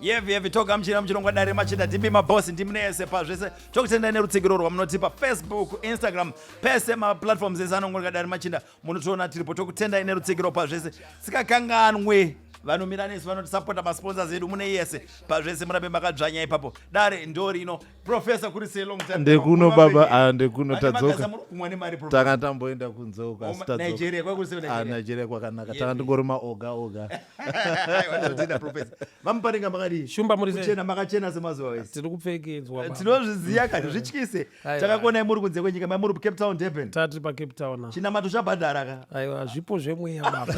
yevi yevi togamuchira muchirongwa dare machida tipi mabosi ndimi neyese pazvese tokutendai nerutsigiro rwamunotipa facebook instagram pese maplatforms ese anongoreka dare machinda munotiona tiripo tokutendai nerutsigiro pazvese sikakanganwe vanomira nesu vanotisapota masponsors edu mune yese pazvese murambe makadzvanya ipapo dare ndorino professor kuri sei long time ndekuno baba ah ndekuno tadzoka tanga tamboenda kunze uka tadzoka Nigeria kwa kuri sei ah, Nigeria kwakanaka tanga ndingori ma oga oga watadzida professor vamuparinga makadi shumba muri kuchena makachena semazuva wese tiri kupfekedzwa baba tinozviziya kani zvityise takakuona muri kunze kwenyika mai muri Cape Town Durban tati pa Cape Town chinamato chabhadhara ka aiwa zvipo zvemweya baba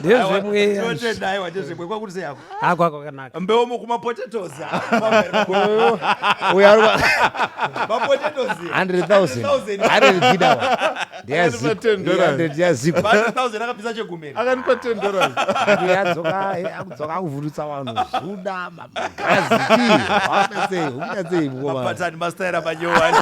ndezvemweyaakwakanaka mbeu mukumapotatoes akuvhurutsa vanhu zvuda mapatani mastaira manyowani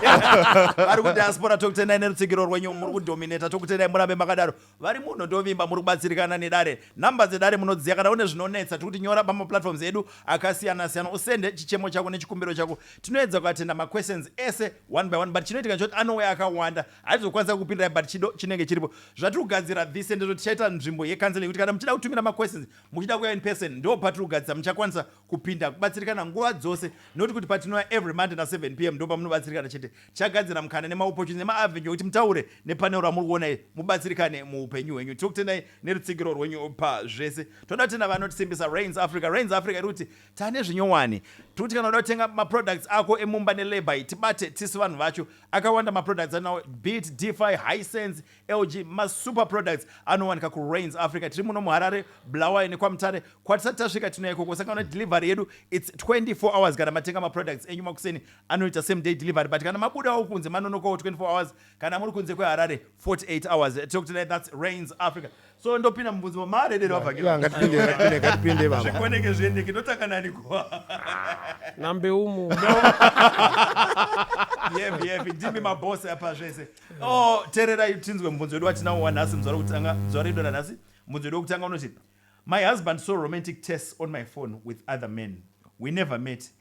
vari kudiaspora tokutenai nerutsigiro rwenyu muri kudominata tokutenai murambe makadaro vari munhu ndovimba muri kubatsirikana nedare nhamba dzedare munodziya kana une zvinonetsa tikuti nyora pamaplatforms edu akasiyana siyana usende chichemo chako nechikumbiro chako tinoedza kuatenda maquestions ese one by one but chinoitika choti anouya akawanda haizokwanisa kupindirai but chido chinenge chiripo zvatiri kugadzira this ndezvo tichaita nzvimbo yekanzela yekuti kana muchida kutumira maquestions muchida kuya in person ndo patiri kugadzisa muchakwanisa kupinda kubatsirikana nguva dzose not kuti patinouya every monday na 7 pm ndo pamunobatsirikana chete tichagadzira mukana nemaopportunity nemaavenue ekuti mutaure nepanel ramuri kuona iri mubatsirikane muupenyu hwenyu tiri kutendai nerutsigiro rwenyu pazvese toda kutenda vanotisimbisa rains africa rains africa iri kuti tane zvinyowani tiri kuti kana uda kutenga maproducts ako emumba nelabour tibate tisu vanhu vacho akawanda maproducts anawo beat defi hisense LG masuper products anowanika kuRains Africa tiri muno muHarare, Bulawayo nekwaMutare kwatisati tasvika tinoya ikoko saka una delivery yedu its 24 hours kana matenga maproducts enyu makuseni anoita same day delivery but kana mabudawo kunze manonokawo 24 hours kana muri kunze kweHarare 48 hours tokutendai that's Rains Africa so ndopinda mubvunzo wa maredero abva Yeah, ngatipinde ngatipinde ngatipinde baba zvikoneke zviendeke ndotanga nani kwa nambe umu yepi yepi ndimi mabhosi apa zvese o tererai tinzwe mubvunzo wedu watinawo wanhasi muzvare kutanga muzvare wedu ranhasi mubvunzo wedu wekutanga unoti my husband saw romantic tests on my phone with other men we never met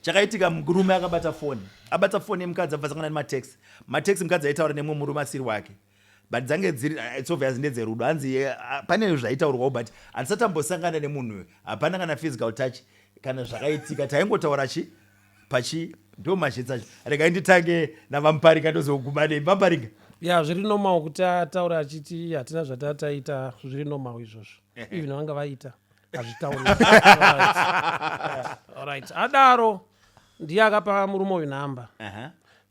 chakaitika murume akabata foni abata foni yemukadzi abva sangana nematex matex mukadzi aitaura nemumwe murume asiri wake but dzange dziri eh, it's obvious ndedzerudo hanzi eh, ah, pane zvaitaurwawo but handisati ambosangana nemunhu uyo hapana kana physical touch kana zvakaitika taingotaura chi pachi ndo mazhitsa acho regai nditange navamparika ndozoguma nei vamparika ya zviri normal kuti ataura achiti hatina zvatataita zviri normal izvozvo even vanga vaita azvitaurialright adaro ndiye akapa murume uyu nhamba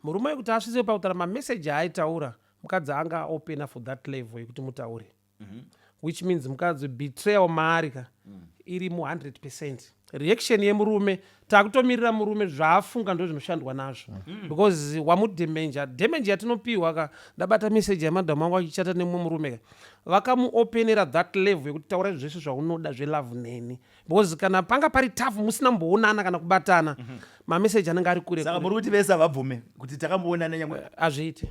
murume uyu kuti asvise pakutara mameseji aaitaura mukadzi anga opena for that level yekuti mutaure mhm. which means mukadzi betrayal maari ka mm. iri mu 100 percent reaction yemurume takutomirira murume zvaafunga ndozvinoshandwa nazvo mm. because wamudhemenja dhemenja yatinopihwa ka ndabata meseji yamadhamu angu achichata nemumwe murume ka vakamuopenera that level yekuti taura zvese zvaunoda zvelove neni because kana panga pari tafu musina mboonana kana kubatana mm -hmm. mameseji anenge ari kure saka muri kuti vese havabvume kuti takamboonana nyangwe eh, hazviiti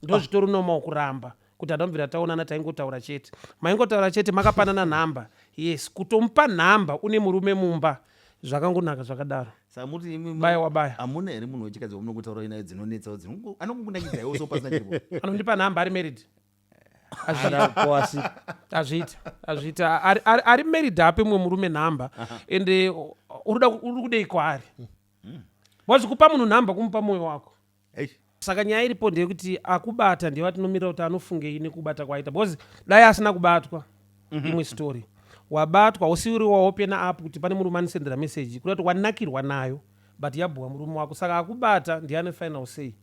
ndozvitori ah. nomawo kuramba kuti adomvira taonana taingotaura chete maingotaura chete makapanana nhamba yes kutomupa nhamba une murume mumba zvakangonaka zvakadaro samuti imwe baya wabaya hamuna here munhu wechikadzi wamunokotaura inayo dzinonetsawo dzino anokungunakidzaiwo so pasina chiripo anondipa nhamba ari married azviita azviita ari married ape mumwe murume nhamba ende uri kudei kwaari hmm. wazvikupa munhu nhamba kumupa mwoyo wako eish saka nyaya iripo ndeyekuti akubata ndiye vatinomirira kuti anofungei nekubata kwaaita because dai asina kubatwa mhm. imwe story wabatwa usiuri waopena apo kuti pane murume anisendera meseji kuda kuti wanakirwa nayo but yabhuwa murume wako saka akubata ndiye ane final sei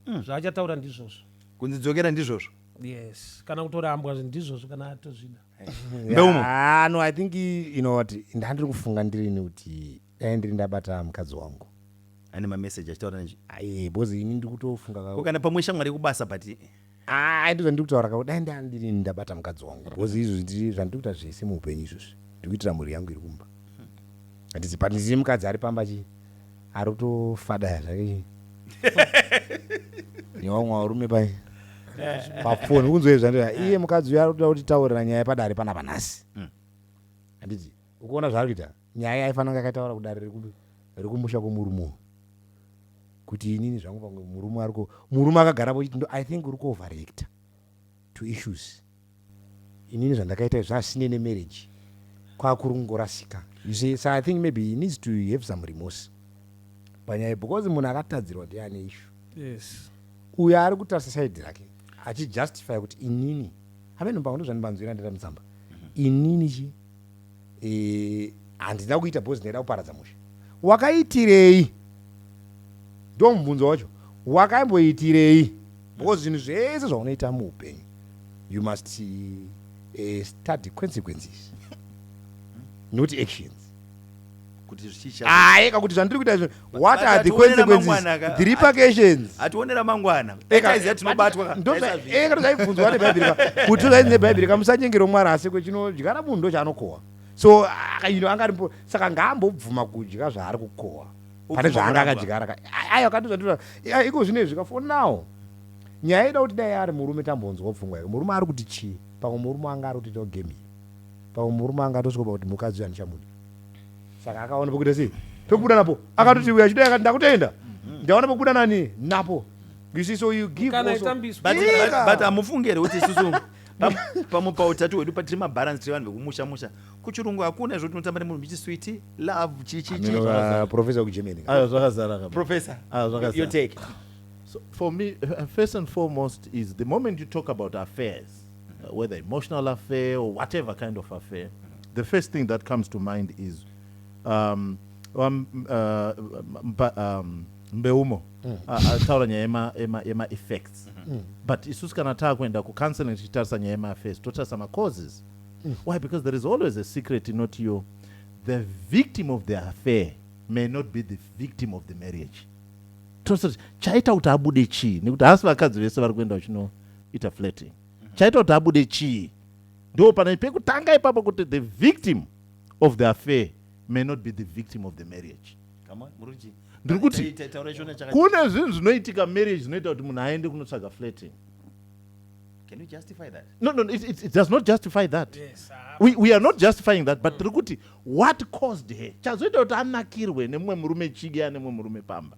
mm. zvaachataura ndizvozvo kunzi dzokera ndizvozvo yes kana kutorambwa ndizvozvo kana atozvida mbeumo ah, no i think you know what ndandiri kufunga ndirini kuti Dai ndiri ndabata mukadzi wangu. Ane ma message achitaura nezvi. Aye bozi ini ndiri kutofunga ka. Ko kana pamwe shamwari yekubasa but. Haa ndizvo ndiri kutaura ka dai ndiri ndabata mukadzi wangu. Bozi izvozvi ndiri zvandiri kuita zvese muupenyu izvozvi ndiri kuitira mhuri yangu iri kumba. Handizivi but ndine mukadzi ari pamba chi ari kutofadaya zvake chi. Newamwe varume pai. Pafoni kunzwa izvi zvandira iye mukadzi uyu ari kutoda kuti taurira nyaya padare panapa nhasi. Handiti ukuona zvaari kuita. Nyaya yaifanira kunge yakaitaura kudare rekupi rekumusha kwemurume uyu kuti inini zvangu pamwe murume ariko murume akagarapo chiti ndo i think uri kuoverreacta to issues inini zvandakaita izvi zvasine nemarriage kwakuri kungorasika you see so i think maybe he needs to have some remorse panyaya because munhu akatadzirwa ndiye ane ishu yes uyo ari kutarisa saidi rake achijustify kuti inini hamenombango ndozvandibanzwira ndira mutsamba inini chii e, handina kuita bhozi ndaida kuparadza musha wakaitirei ndo mubvunzo wacho wakaimboitirei because zvinhu zvese zvaunoita muupenyu you must uh, study consequences not actions kuti zvichicha ah eka kuti zvandiri kuita izvi what are the consequences the repercussions ationera mangwana eka izvi tinobatwa ka ndo eka ndo zvaibvunzwa ne bible ka kuti zvayi ne bible ka musanyengero mwari asi kuti chino jigara munhu ndo chanokowa so ah, you know angari saka ngaambo bvuma kudya zvaari kukowa pane zvaanga akajigara ka ayo kati zvatira iko zvine zvika for now nyaya ida kuti dai ari murume tambonzwa pfungwa yake murume ari kuti chii pamwe murume anga ari kuti to game Pamwe murume anga atosvikopa kuti mukadzi uyu handichamude. Saka akaona pokuita sei? Pekubuda napo. Akatoti uyu achidai akati ndakutenda. Mm-hmm. Ndaona pokubuda nani napo. You see so you give Kana also. But, but, but amufunge here kuti isusu pamwe pautatu hwedu patiri mabaransi tiri vanhu vekumusha musha kuchirungu hakuna izvo tinotamba nemunhu michi switi love chichichiprofesa kugermany ayo zvakazara profesa ayo zvakazara your take so for me uh, first and foremost is the moment you talk about affairs uh, whether emotional affair or whatever kind of affair the first thing that comes to mind is um, um, uh, mba, um, mbeumo mm. ataura uh, nyaya yemaeffects ema, ema mm. but isusu kana taakuenda kucounseling tichitarisa nyaya yemaaffairs totarisa macauses mm. why because there is always a secret not you the victim of the affair may not be the victim of the marriage tosati chaita kuti abude chii nekuti hasi vakadzi vese vari kuenda uchino ita flating chaita kuti abude chii ndo pana pekutanga ipapo kuti the victim of the affair may not be the victim of the marriage ndiri kuti kune zvinhu zvinoitika marriage zvinoita kuti munhu aende kunotsvaga flating Can you justify that? No, no, it, it, it does not justify that. Yes, uh, we, we are not justifying that, but tiri mm. kuti what caused her chazoita kuti anakirwe nemumwe murume chige ane mumwe murume pamba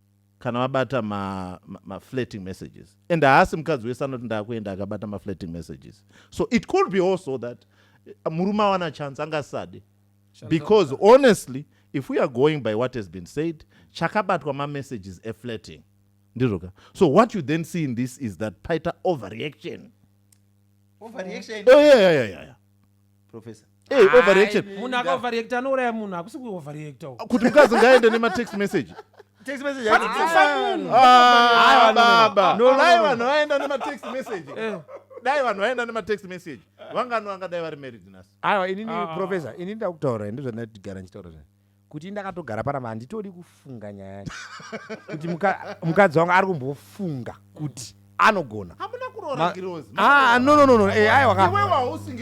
kana vabata maflating ma, ma messages and haasi mukadzi wese anoti ndakuenda akabata maflating messages so it could be also that eh, murume awana chance angasade because honestly if we are going by what has been said chakabatwa mamessages eflating ndizvoka so what you then see in this is that paita overreaction overreaction oh, yeah, yeah, yeah, yeah. professor Hey, eh, overreaction. Munhu akaoverreacta anouraya munhu hakusi kuoverreacta. Kuti mukadzi ngaende nema text message. Text message hadi kufa munhu. Ah, baba. No, dai vanhu vaenda nema text message. Eh. Dai vanhu vaenda nema text message. Vangano vangadai vari married nasu. Aiwa inini ah. professor, inini ndakutaura ndizvo ndati gara ndichitaura zvani. kuti ndakatogara panapa handitodi kufunga nyaya yacho kuti mukadzi wangu ari kumbofunga kuti anogona ah, no no no no eh, aiwa ka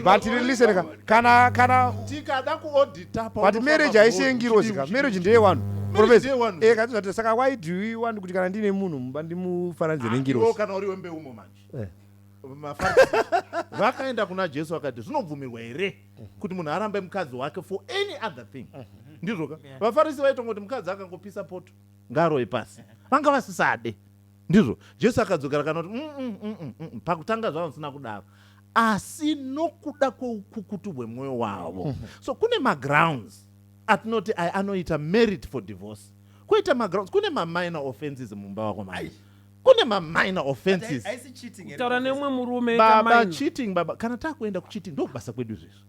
but listen ka kana kana tikada kuaudita but marriage haisiye ngirozi ka marriage ndeye wanhu profesa eh kati zvati saka why do you want kuti kana ndine munhu mumba ndimufananidze ah, nengirozi kana uri wembeumo manje eh. vakaenda kuna jesu vakati zvinobvumirwa here kuti munhu arambe mukadzi wake for any other thing ndizvoka vafarisi vaitongoti mukadzi akangopisa poto ngaroye pasi vanga vasisade ndizvo jesu akadzokera kanoti mm, mm, mm, pakutanga zvavo sina kudaro asi nokuda kweukukutu hwemwoyo wavo mhm. so kune magrounds atinoti aya anoita merit for divorce koita magrounds kune maminor offenses mumba wako mai kune maminor offenses kutaura neumwe murume baba cheating baba kana takuenda kucheating ndokubasa kwedu izvezvo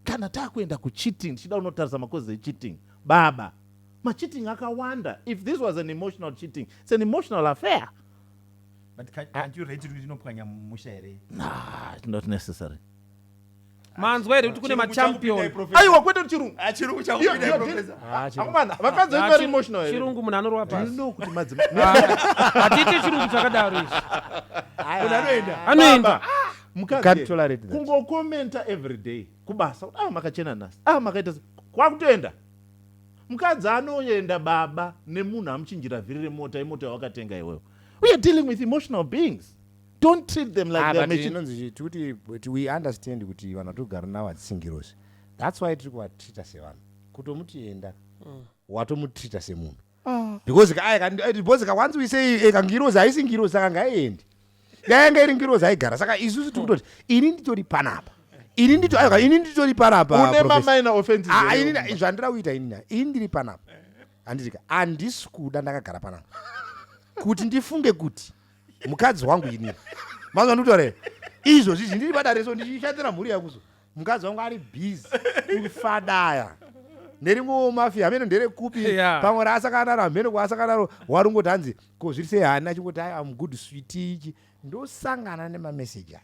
kana takuenda kucheating ndichida unotarisa makozi echeating baba macheating akawanda if this was an emotional cheating it's an emotional affair but can't you rate it kuti inopwanya musha here not necessary manzwa here kuti kune machampion aiwa kwete chirungu ah, chirungu chakupinda professor ah, akomana vakadzi ah, vari emotional here chirungu munhu anorwa pasi you know kuti madzi atite chirungu chakadaro izvi munhu anoenda anoenda mukadzi kungo commenta every day kubasa ah makachena nasi ah makaita kwakutoenda mukadzi anoenda baba nemunhu amuchinjira vhiri remota imota yawakatenga iwewe we are dealing with emotional beings don't treat them like ah, they're machine inonzi tikuti but we understand kuti vanhu vatogara navo hadzisingirozi that's why tiri kuvatreata sevanhu kutomutienda mm. watomutreata semunhu ah. because because ka once we say eh, kangirozi haisi ngirozi saka ngaiendi yayanga iri ngirozi aigara saka isusu tiri kutoti ini nditori panapa ini ndito ayoka ini nditori panapa une mamaina offenses ah, ini zvandira kuita ini na ini ndiri panapa handitika handisi kuda ndakagara panapa kuti ndifunge kuti mukadzi wangu ini mazwa ndikutoreva izvo zvizvi ndiri padare so ndichishandira mhuri yakuzo mukadzi wangu ari busy kufadaya nerimwewo mafia hameno nderekupi Yeah. pamwe raasakanaro hameno kwaasakanaro warungoti hanzi ko zviri sei hani achingoti ai am good switi ichi ndosangana nemameseji aya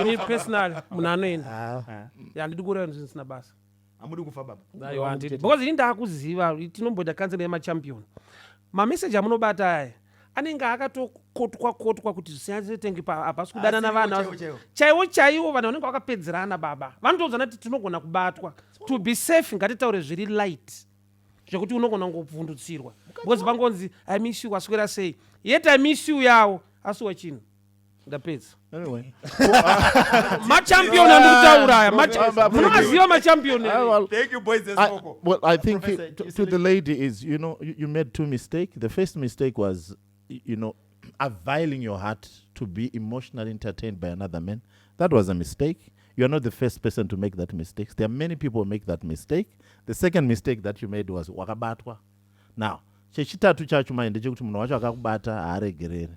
ini personal munhu anoenda ah. handidi kureva zvinhu zvisina basa hamudi kufa baba because ini ndaakuziva tinomboita kansel yemachampion mameseji amunobata aya anenge akatokotwa kotwa kuti zvisiyazitenge hapasi kudanana vana chaiwo chaiwo vanhu vanenge vakapedzerana baba vanotouzana kuti tinogona kubatwa to be safe ngatitaure zviri light zvekuti unogona kungobvundutsirwa because vangonzi amishu waswera sei yet amishu yawo asiwa chinhu ndapedza anyway machampion andikutaura aya munomaziva machampion well i think Professor, to, to the lady is you know you, you made two mistake the first mistake was you know availing your heart to be emotionally entertained by another man that was a mistake you are not the first person to make that mistake there are many people make that mistake the second mistake that you made was wakabatwa now chechitatu chacho mai ndechekuti munhu wacho akakubata haaregerere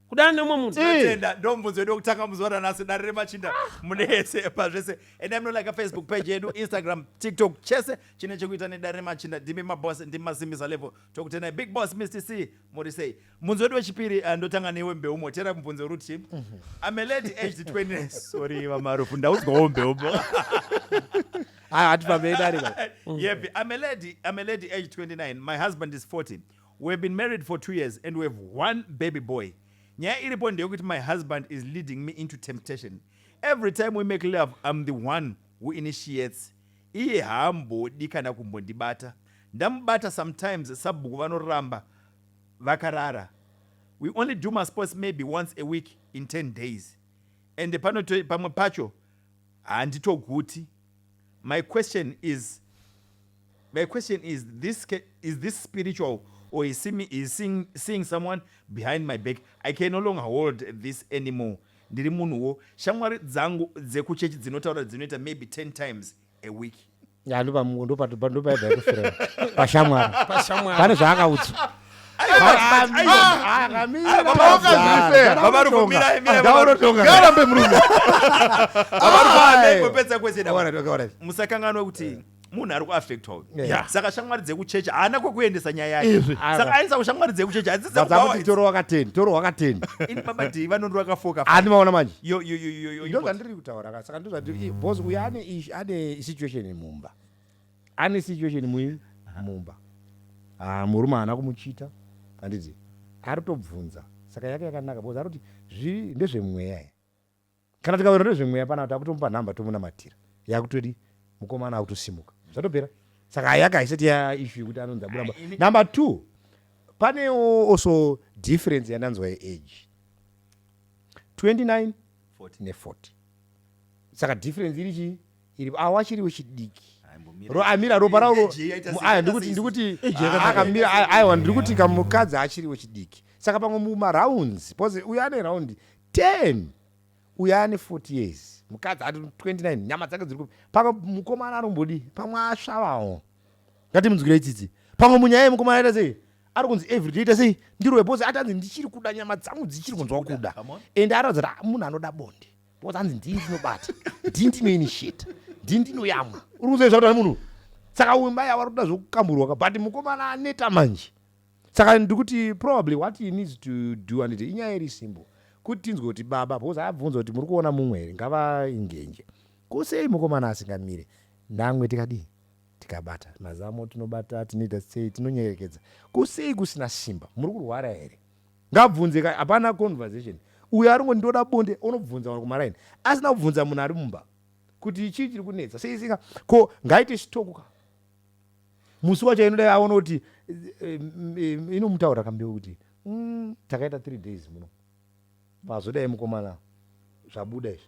kudana neumwe munhu tenda ndomubvunzo yedu wekutanga muzuva ranhasi dare remachinda ah. mune yese pazvese enda munolika facebook page yedu instagram tiktok chese chine chekuita nedare remachinda ndimi maboss ndimi masimbisa level tokutendai big boss mr c muri sei mubvunzo wedu wechipiri eh, ndotanga newe mbeu motera mubvunzo ruti mhm. i'm a lady aged 20 sorry vamarufu ndaudzwawo mbeu hatipamei dare yepi i'm a lady i'm a lady aged 29 my husband is 40 We have been married for two years and we have one baby boy. Nyaya iripo ndeyekuti my husband is leading me into temptation. Every time we make love, I'm the one who initiates. Iye haambodi kana kumbondibata. Ndamubata sometimes sabhuku vanoramba vakarara. We only do masports maybe once a week in 10 days. And panoto, pamwe pacho handitoguti. My question is my question is this is this spiritual or is seeing, is seeing, seeing someone behind my back I can no longer hold this anymore ndiri munhuwo shamwari dzangu dzekuchechi dzinotaura dzinoita maybe 10 times a week ndopaivaekufira pashamwari pane zvaakaudzwa musakanganwa kuti munhu ari kuaffectwa uyu yeah. saka shamwari dzekuchechi haana kwekuendesa nyaya yake saka aendesa kushamwari dzekuchechi hadzisakuti toro wakateni toro wakateni ini baba dii vanondo vakafoka ani maona manje ndozvandiri kutaura saka ndozvandiri bos uyu ane situation mumba Ane situation mui mumba. Ah murume haana kumuchita handiti arikutobvunza saka yake yakanaka because arikuti zvii ndezvemweya here. Kana tikaona ndezvemweya panapa takutomupa number tomunamatira yakutodi mukomana akutosimuka zvatopera. Saka yake haisati ya issue yekuti anonzi abuda mumba. Number two panewo also difference yandanzwa yeage 29 ne 40 saka difference iri chii iri awa chiriwo chidiki amira ropa rawo aya ndikuti ndikuti akamira aiwa ndiri kuti kamukadzi achiriwo chidiki saka pamwe mumarounds bcause uyo ane round 10 uyo ane 40 years mukadzi ati 29 nyama dzake dziri kupi pamwe mukomana arombodi pamwe asvavawo ngati munzwirei tsitsi pamwe munyaya yemukomana aita sei ari kunzi everyday ita sei ndirowe bcause atanzi ndichiri kuda nyama dzangu dzichiri kunzwa kuda and aratidza kuti ah, munhu anoda bonde because hanzi ndini ndinobata ndini ndinoinitiate ndini ndinoyamwa uri kuziva zvauta nemunhu saka uyu mai ava rikuda zvokukamburwa ka but mukomana aneta manje saka ndikuti probably what he needs to do anditi inyaya iri simple kuti tinzwe kuti baba because aabvunza kuti muri kuona mumwe here ngavaingenje kusei mukomana asingamire namwe tikadii tikabata mazamo tinobata tinoita sei tinonyerekedza kusei kusina simba muri kurwara here Ngabvunze ka hapana conversation. Uyu aringo ndoda bonde onobvunza vanhu kumaraini asina kubvunza munhu ari mumba kuti chii chiri kunetsa sei singa ko ngaite chitoko ka musi wacho inoda aona kuti eh, eh, inomutaura kambeu kuti mm, takaita three days muno pazodai mukomana zvabuda izvi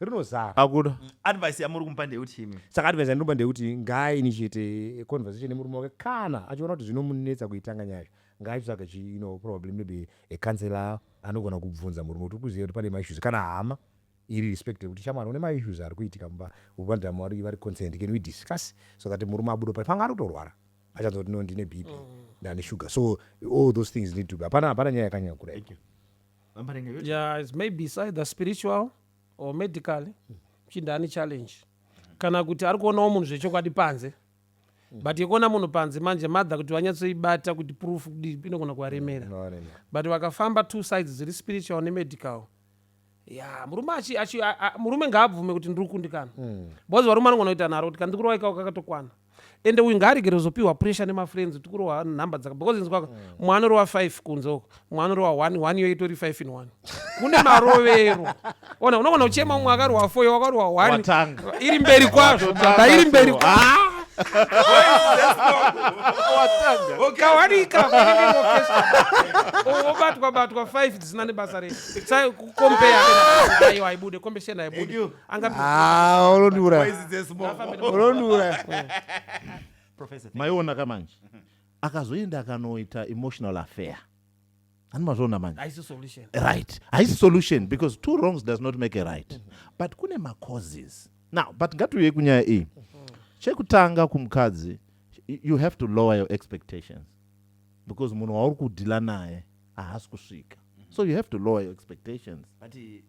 rinozara akuda mm, advice yamuri kumupa ndeyekuti imi saka advice yandinopa ndeyekuti ngaainitiate conversation nemurume wake kana achiona kuti zvinomunetsa kuitanga nyaya yacho ngaaitsvage chi you know probably maybe a counselor anogona kubvunza murume kuti ukuziva kuti pane maissues kana hama iri respect yekuti shamwari une maissues ari kuitika mumba ubandama vari vari concerned can we discuss so that murume abudo pari panga ari kutorwara achanzwa kuti no ndine bp mm. ndane sugar so all those things need to be hapana hapana nyaya yakanyanya kudai vambarenga yoti yeah it's maybe it's either spiritual or medical mchinda ane challenge kana kuti ari kuonawo munhu zvechokwadi panze but yekuona munhu panze manje mother kuti vanyatsoibata kuti proof kudii inogona kuvaremera Varemera. but vakafamba two sides dziri spiritual nemedical ya murume achi, achi, a, a, murume ngaabvume kuti ndiri kukundikana mm. because varume anogona kuita nharo kuti kandikurowaikawo kakatokwana ende uyu ngaaregere kuzopihwa pressure nemafriends kuti kurohwa nhamba dzaka because inzwa mm. mumwe anorohwa five kunze uko mumwe anorohwa one one iyo itori five in one kune marovero ona unogona kuchema mumwe akarohwa four wakarohwa one iri mberi kwazvo baba iri mberi kwazvo ukawanikaobatwa batwa 5 dzisina nebasa rese sai kukombea aiwa aibude kombesheni aibude Ah, maiona ka manje akazoenda akanoita emotional affair ani mazviona manje right haisi solution because two wrongs does not make a right mm -hmm. but kune macauses now but ngatiuye kunyaya iyi mm -hmm. chekutanga kumukadzi you have to lower your expectations because munhu wauri kudhila naye haasi kusvika mm -hmm. so you have to lower your expectations but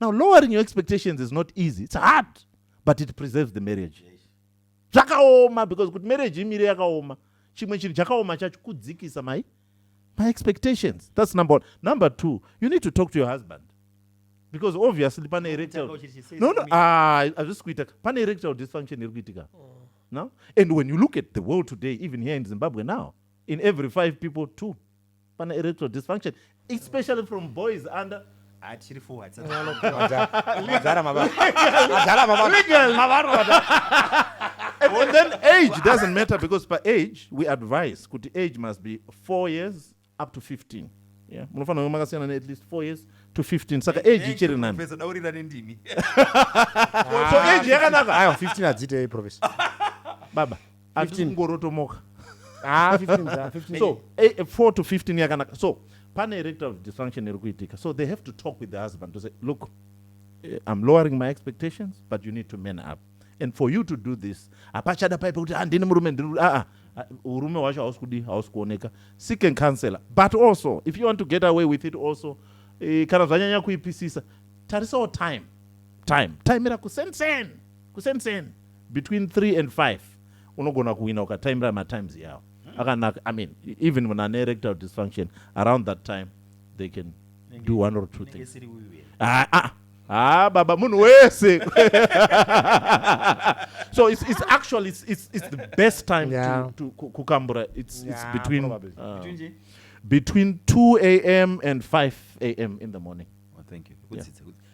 now lowering your expectations is not easy it's hard but it preserves the marriage zvakaoma because kuti marriage imire yakaoma chimwe chinhu chakaoma chacho kudzikisa mai my expectations that's number one number two you need to talk to your husband because obviously pane erectile no no ah hazvisi kuita pane erectile dysfunction iri kuitika oh. no and when you look at the world today even here in zimbabwe now in every five people two pana erectile dysfunction especially from boys under achiri forwards Madhara mava- madhara mava- Legal. mavarota. and, and then age doesn't matter because per age we advise kuti age must be 4 years up to 15 yeah munofanira kunge makasiyana ne at least 4 years to 15 saka age ichiri nani Professor, daurira nendimi so age yakanaka Aiwa, 15 hadzitei professor baba atisi kungorotomoka ah, so 4 to 15 yakanaka so pane erectile dysfunction iri kuitika so they have to talk with the husband to say look eh, i'm lowering my expectations but you need to man up and for you to do this hapachada paipe kuti handini ah, murume ndiri aa ah, ah, urume hwacho hausi kudi hausi kuoneka seek and counselor but also if you want to get away with it also eh, kana zvanyanya kuipisisa tarisawo time time time ira kusensen kusensen between three and five unogona kuwina ukataimira matimes iyawo akanaka i mean even munhu ane erectile dysfunction around that time they can do one or two Inenge things isiri uyu here? Ah, ah, ah, baba munhu wese so it's, it's actually it's, it's, it's the best time Yeah. to, to ku- kukambura it's, it's Yeah, between probably. uh, Between nje? between 2 a.m and 5 a.m in the morning Oh, thank you. Kudzidza, kudzidza.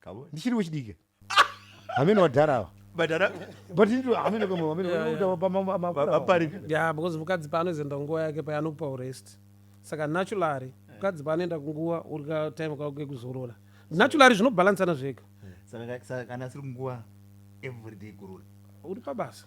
kavo ndichiri wechidiki hameno vadhara ava badhara but into hameno kamwe hameno Yeah, yeah. unotaura pama- ma- ma- vapari ya because mukadzi paanozoenda kunguva yake paya anokupa urest saka naturally mukadzi paanoenda kunguva uri ka time kako kekuzorora naturally zvinobhalansana zvega Saka- saka kana asiri kunguva everyday kurura uri pabasa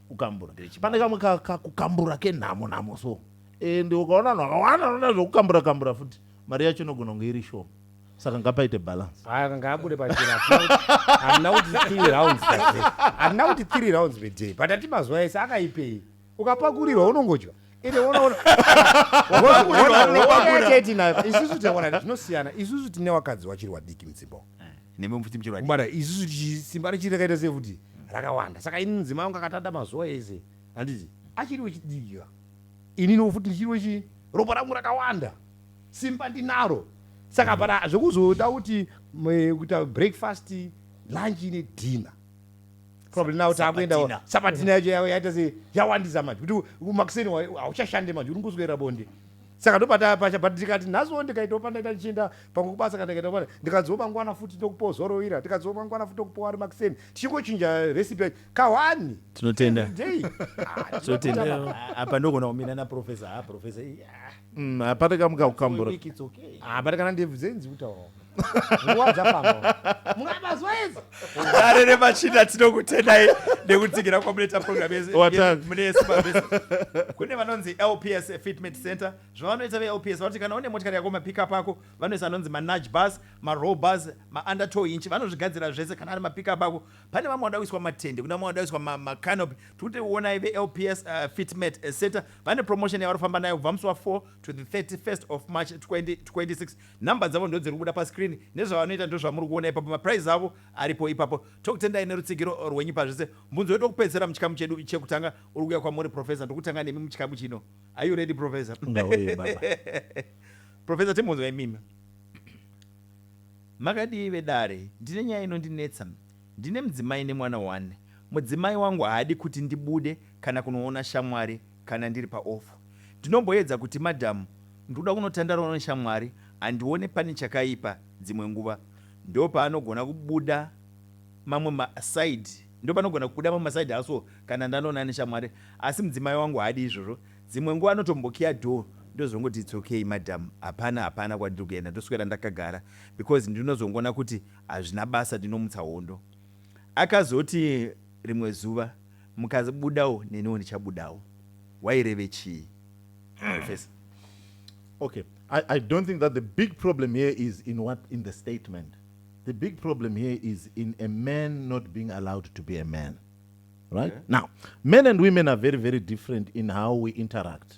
kukambura pane kamwe kakukambura kenhamo nhamo so and ukaona vanhu vakawanda vanoda zvekukambura kambura futi mari yacho inogona kunge iri shoma saka ngapaite balance aka ngaabude pachena handina kuti three rounds handina kuti three rounds veday but ati mazuva ese akaipei ukapakurirwa unongodya ende unoona isusu taona zvinosiyana isusu tine wakadzi wachiri wadiki mudzimba nemumfutimchirwabara isusu simba richiri rakaita sei futi rakawanda saka ini mudzimai wangu akatanda mazuva ese handiti achiri wechidika ini no futi ndichiri wechi ropa rangu rakawanda simba ndinaro saka bara zvekuzoda kuti kuita breakfast lunch nedinner probably now takuendawo sabatina yacho yavo yaita se yawandisa manje kuti makuseni hauchashande manje uri nguswera bonde saka ndopata pasha but ndikati nhasiwo ndikaitawo pandaita ndichienda pamwe kubasa kana ndikaita pane ndikadziwo mangwana futi tokupozorowira ndikadziwo mangwana futi tokupowa ari makuseni tichingochinja recipe yacho kahwani tinotenda day tinotenda apa ndogona kumira naprofesa ha profesa Mm, hapana kamuka kukambura hapana ah, kana ndebvu dzenyu dzikutaurawo nguva dzafamba mukabazwa idzi dare remachina tinokutendai nekutsigira kwamunoita program mune simabese kune vanonzi lps fitment center zvavanoita velps vanoti kana une motikari yako mapickup ako vanoisa anonzi manage bus marow bus maunder tow inchi vanozvigadzira zvese kana ari mapickup ako pane vamwe vanoda kuiswa matende kuna vamwe vanoda kuiswa macanopi tikuti onai velps uh, fitment center Vane promotion yavari kufamba nayo kubva musi wa 4 to the 31st of March 2026. Number dzavo ndodziri kubuda pascreen. Nezvavanoita ndozvamuri kuona ipapo. Maprize avo aripo ipapo. Tokutendai nerutsigiro rwenyu pazvese. Mbunzo wedu wekupedzisira muchikamu chedu chekutanga uri kuuya kwamuri Professor. Ndiri kutanga nemi muchikamu chino. Are you ready Professor? Ndauya baba. Professor timbunzwa imimi. Makadii vedare? Ndine nyaya inondinetsa. Ndine mudzimai nemwana one. Mudzimai wangu haadi kuti ndibude kana kunoona shamwari kana ndiri paoff. Ndinomboedza kuti madam ndikuda kunotandarawo neshamwari handione pane chakaipa dzimwe nguva ndopaanogona kubuda mamwe maside ndopanogona kubuda mamwe maside aso kana ndanoona neshamwari asi mudzimai wangu haadi izvozvo dzimwe nguva anotombokiya door ndozongoti it's okay madam hapana hapana kwandiri kuenda ndoswera ndakagara because ndinozongoona kuti Hazvina basa ndinomutsa hondo. Akazoti rimwe zuva, Mukabudawo neniwo ndichabudawo. Waireve chii? Professor. Okay, I, I don't think that the big problem here is in what in the statement. The big problem here is in a man not being allowed to be a man. Right? Yeah. Now, men and women are very, very different in how we interact.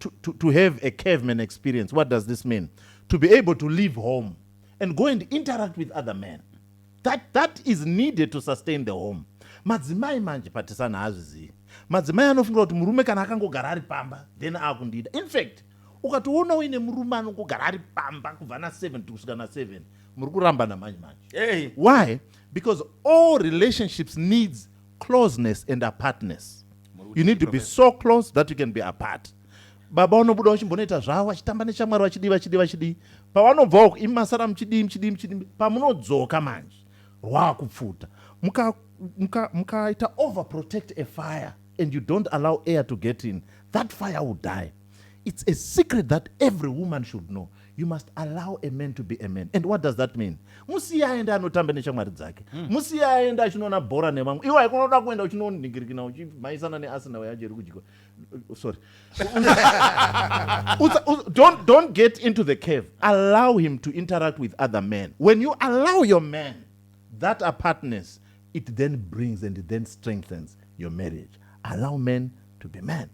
to, to, to have a caveman experience. What does this mean? To be able to leave home and go and interact with other men. That, that is needed to sustain the home. Madzimai manje patisana hazvizivi. Madzimai anofungira kuti murume kana akangogara ari pamba then akundida. In fact, ukatoona uine murume anongogara ari pamba kubva na 7 kusvika na 7 muri kurambana manje manje. Hey. Why? Because all relationships needs closeness and apartness you need to be so close that you can be apart baba vanobuda vachimbonoita zvavo vachitamba nechamwari vachidii vachidii vachidii pavanobvawo imi masara muchidii muchidii muchidii pamunodzoka manje rwakupfuta mukaita muka, muka overprotect a fire and you don't allow air to get in that fire will die It's a secret that every woman should know. You must allow a man to be a man. And what does that mean? Musiya aende anotamba neshamwari dzake. Hmm. Musiya aende achinoona bhora nevamwe. Iwe haikona kuda kuenda uchinoningirikina uchimhaisana neArsenal yacho iri kudyiwa. Uh, sorry. don't, don't get into the cave. Allow him to interact with other men. When you allow your man that apartness, It then brings and it then strengthens your marriage. Allow men to be men.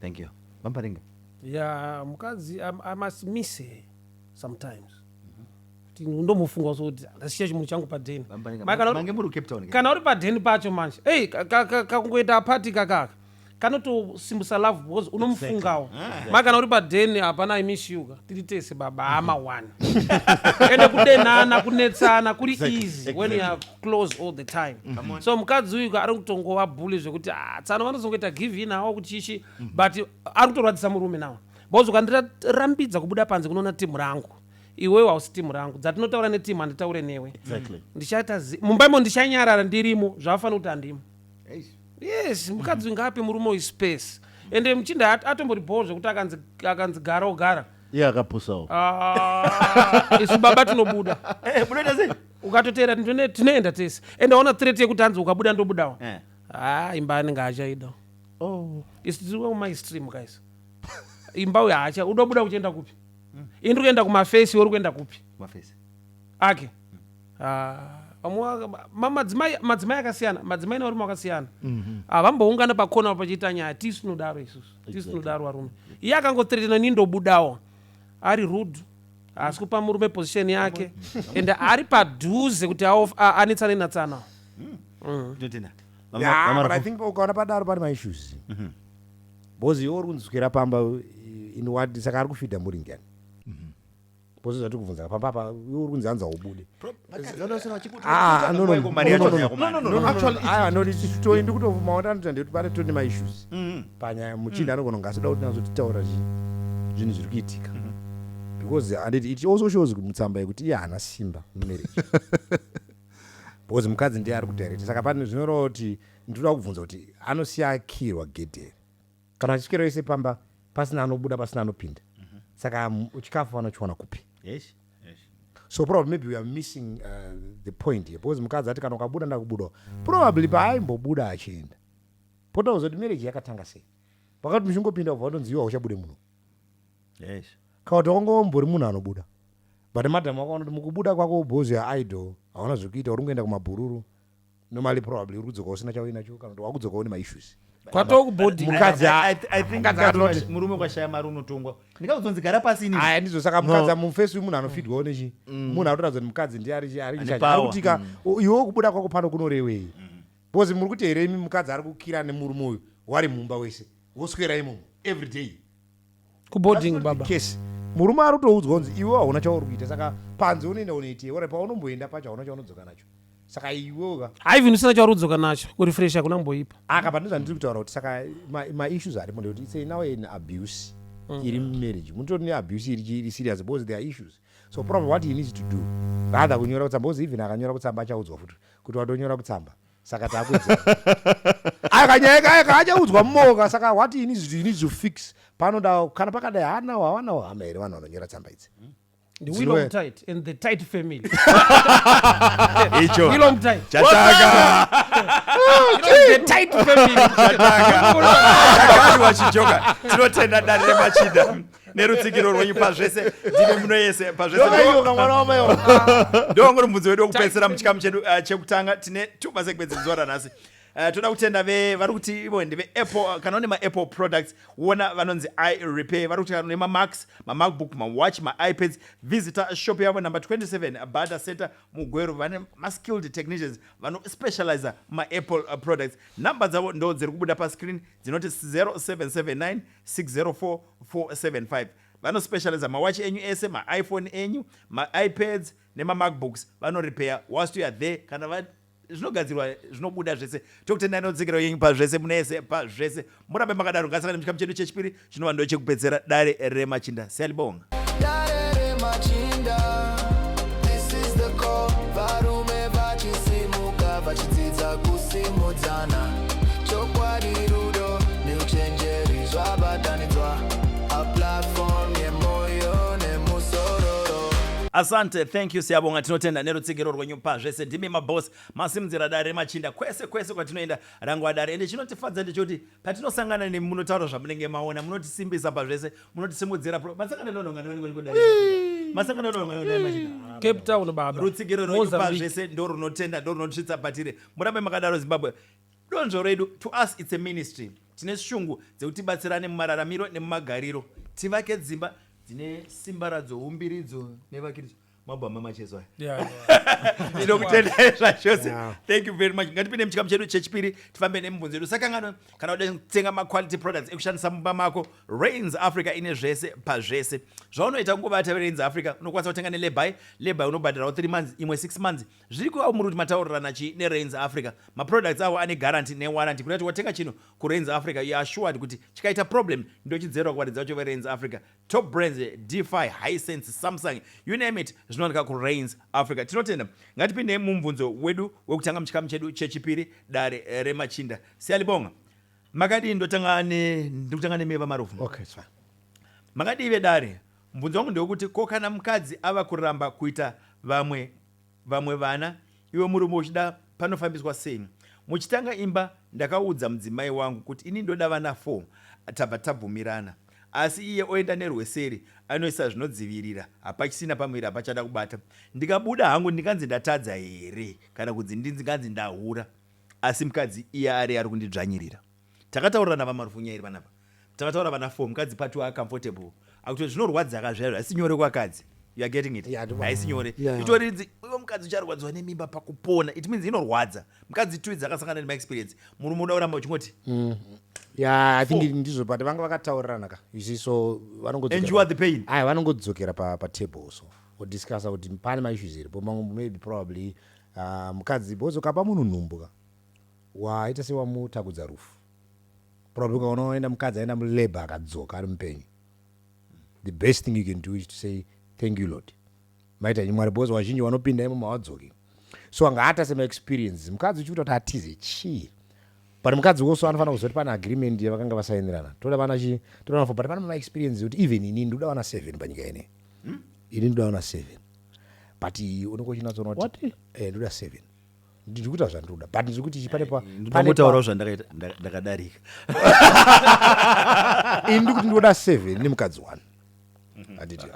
Thank you. Mamparinga. Yeah, mukadzi I, I must miss her sometimes. Kuti ndomufunga so kuti ndasiya chimunhu changu padheni. Mamparinga. Mai, kana uri- Mange muri Cape Town. ke? kana uri padheni pacho manje ei kakungoita apati kakaka kanotosimbisa love because unomufungawo exactly. ma kana uri padeni hapana imishuka tiri tese baba hama one ende kudenana kunetsana kuri exactly. easy exactly. when you are close all the time mm -hmm. so mukadzi uyu ari kutongova bully zvekuti ah, tsano vanozongoita give in awo kuchichi mm -hmm. but ari kutorwadzisa murume nawo because ukandirambidza kubuda panze kunoona timu rangu iwewe hausi timu rangu dzatinotaura netimu handitaure newe exactly. ndichaita mumba imo ndichanyarara ndirimo zvavafanira kuti handimo yes mukadzi ngaape murume uyu space ende muchinda at- atombori bhoo zvekuti akanzi akanzi gara ogara iye akapusawo Ah, isu baba tinobuda Eh, munoita sei ukatoteera tine- tinoenda tese ende aona threat yekuti hanzi ukabuda ndobudawo Eh. ha imba anenge achaida oh. isu tiri kumai stream guys imba uyo haacha udobuda uchienda kupi ini ndiri kuenda kumafesi uri kuenda kupi mafesi ake Ah, madzimai madzimai akasiyana madzimai nevarume vakasiyana mhm. ah, vamboungana pakona pachiita nyaya tisu tinodaro isusu tisu tinodaro varume iye akangotretena ni ndobudawo ari rude haasi kupa murume position yake and ari padhuze kuti anetsane natsana ukaona padaro pane maissues mhm. bcause iwe uri kunzwira pamba inwadi saka ari kufidha muringani Bose zvatiri kubvunza pamba apa iwe uri kunzi hanzi haubude. Ah, no, no, no, Mari yacho no, no, no. yakomana. No, no, no, no, actually, it's- Ah, no, it's- titoi ndikutomaona anoita ndekuti pane tone ma issues Mm. panyaya muchinda anogona kunge asida kuti nazo titaura zvi- zvinhu zviri kuitika because and it, it also shows kuti mutsamba yekuti iye haana simba mumarriage because mukadzi ndiye ari kudirect saka pane zvinoreva kuti ndikuda kubvunza kuti anosiya akirwa gedhe Kana chikero ise pamba pasina anobuda pasina anopinda. Mm -hmm. Saka um, chikafu vanochiwana kupi? Yes. So probably maybe we are missing uh, the point here because mukadzi ati kana ukabuda ndakubuda. Probably paaimbobuda achienda. Pota uzoti marriage yakatanga sei? Pakati muchingopinda kubva watonzi iwe uchabude munhu. Yes. Kawati wangombori munhu anobuda. But madam wakaona kuti mukubuda kwako bozi ya idol hauna zvekuita uri kuenda kumabhururu. normally probably uri kudzoka usina chauinacho kana kuti wakudzoka une maissues kwatoo kubhodhi mukadzi murume kwashaya mari unotongwa ndikakuzonzi gara pasi ini aya ndizvo saka mukadzi mufesi wemunhu anofidwawo nechi mm. munhu anotoratidza kuti mukadzi ndiye arikutika mm. iwe kubuda kwako pano kunorewei mm. because muri kuti here imi mukadzi ari kukira nemurume uyu wari mumba wese woswera imomo every day kuboarding baba case murume ari kutoudzwa kunzi iwe hauna chauri kuita saka panze unoenda unoitei ora paunomboenda pacho hauna chaunodzoka nacho saka iwe uka haivin usina chauri kudzoka nacho kurefresh hakuna kumboipa akapa ah, ndozvandiri kutaura kuti saka maissues ma arimo ndekuti itsei now an abuse mm. iri mumarriage mutori neabuse iri iri serious because there are issues so probably what he needs to do rather kunyora kutsamba because even akanyora kutsamba achaudzwa futi kuti watonyora kutsamba saka takuedza aya kanyaya kaya kaachaudzwa mumoka saka what you need, you need to fix panoda kana pakadai haanawo havanawo hama here vanhu vanonyora tsamba idzi The Zero- Willom tight and the tight family. icho Willom tight. chataka The tight family. Chakadwa chijoka tinotenda dare remachida nerutsigiro rwenyu pazvese ndive muno yese pazvesendoongori mubvunzo wedu wekupedzisira muchikamu chedu eh, chekutanga tine two masegments zuva ranhasi eh, toda kutenda ve vari kuti ivo ndeve apple eh, kana une maapple products wona vanonzi i repair vari kuti kana une mamax mamacbook mawatch maipads visitor shop yavo number 27 bada center mugweru vane maskilled technicians vanospecializa maapple products number dzavo ndo dziri kubuda pascreen dzinoti 0779 604475 vano specializer mawatch enyu ese maiphone enyu maipads nemamacbooks vano repair whilst you are there kana va zvinogadzirwa zvinobuda zvese tokutendai notsikiro yenyu pazvese munese pazvese murambe makadaro ngasaka nemuchikamu chedu chechipiri chinova ndo chekupedzera dare remachinda siyalibonga asante thank you siyabonga tinotenda nerutsigiro rwenyu pazvese ndimi maboss masimudzira dare remachinda kwese kwese kwatinoenda rangwa dare ende chinotifadza ndechoti patinosangana nemi munotaura zvamunenge maona munotisimbisa pazvese munotisimudzira masakana nononga nonongodai masakana nononga nononga machina cape town baba rutsigiro rwekupa zvese ndo runotenda ndo runotisvitsa patire murambe makadaro zimbabwe donzvo redu to us its a ministry tine shungu dzekuti batsirane mumararamiro nemumagariro tivake dzimba dzine simba radzo umbiridzo nevakiridzo mabhama macheso aya Yeah, yeah. tinokutendai zvachose Yeah. thank you very much ngatipinde muchikamu chedu chechipiri tifambe nemibvunzo yedu sakangano kana uda kutenga maquality products ekushandisa mumba mako rains africa ine zvese pazvese zvaunoita kungovata verains africa unokwanisa kutenga nelebai lebai unobhadhirawo 3 months imwe 6 months zviri kuva muri kuti mataurirana chii nerains africa maproducts avo ane guarantee newarranty kuda kuti watenga chinhu kurains africa you are assured kuti chikaita problem ndochidzerwa kuvaridzi vacho verains africa Top Brands, Defy, Hisense, Samsung, you name it, zvinowanika kuRains Africa. Tinotenda. Ngatipindei mumubvunzo wedu wekutanga muchikamu chedu chechipiri, dare remachinda. Siyalibonga. Makadii ndotanga ne ndikutanga nemi vamarufu. Okay, it's fine. Makadii vedare? Mubvunzo wangu ndewekuti ko kana mukadzi ava kuramba kuita vamwe vamwe vana iwe murume uchida panofambiswa sei muchitanga imba ndakaudza mudzimai wangu kuti ini ndoda vana four tabva tabvumirana asi iye oenda nerweseri anoisa zvinodzivirira hapachisina pamuviri hapachada kubata ndikabuda hangu ndinganzi ndatadza here kana kudzi ndinganzi ndahura asi mkadzi iye ari ari kundidzvanyirira Takataurira na vaMaruvhunya iri vanapa takataura vana four mukadzi part wa comfortable akuti zvinorwadza ka zvaizvo haisi nyore kwakadzi you are getting it Yeah, ndibva- haisi nyore Yeah. itori ridzi iwe mukadzi ucharwadziwa nemimba pakupona it means inorwadza mukadzi two idzi akasangana nema experience murume unoda kuramba uchingoti ya i think ndizvo but vanga vakataurirana ka you see so vanongodzokera and you are pa- the pain aya vanongodzokera pa, pa table so odiscussa kuti pane maissues iripo mamwe maybe probably uh, mukadzi bozo kapa munhu nhumbu ka Waita sewamutagudza rufu probably ukaona waenda mukadzi aenda mulabour akadzoka ari mupenyu the best thing you can do is to say thank you lord maita henyu mwari because wazhinji wanopinda imomo hawadzoki so anga ata semaexperiences mukadzi uchiuta kuti atize chii but mukadzi also anofanira kuziva kuti pane agreement yavakanga vasainirana toda vana chi toda vana four but pane mamaexperiences ekuti even ini ndoda vana seven panyika ine ini ndoda vana seven but unenge uchinatsoona kuti What? eh, ndoda seven ndiri kuita zvandinoda but ndiri kuti pane pautaurawo zvandakadarika ini ndiri kuti ndinoda seven nemukadzi one handiti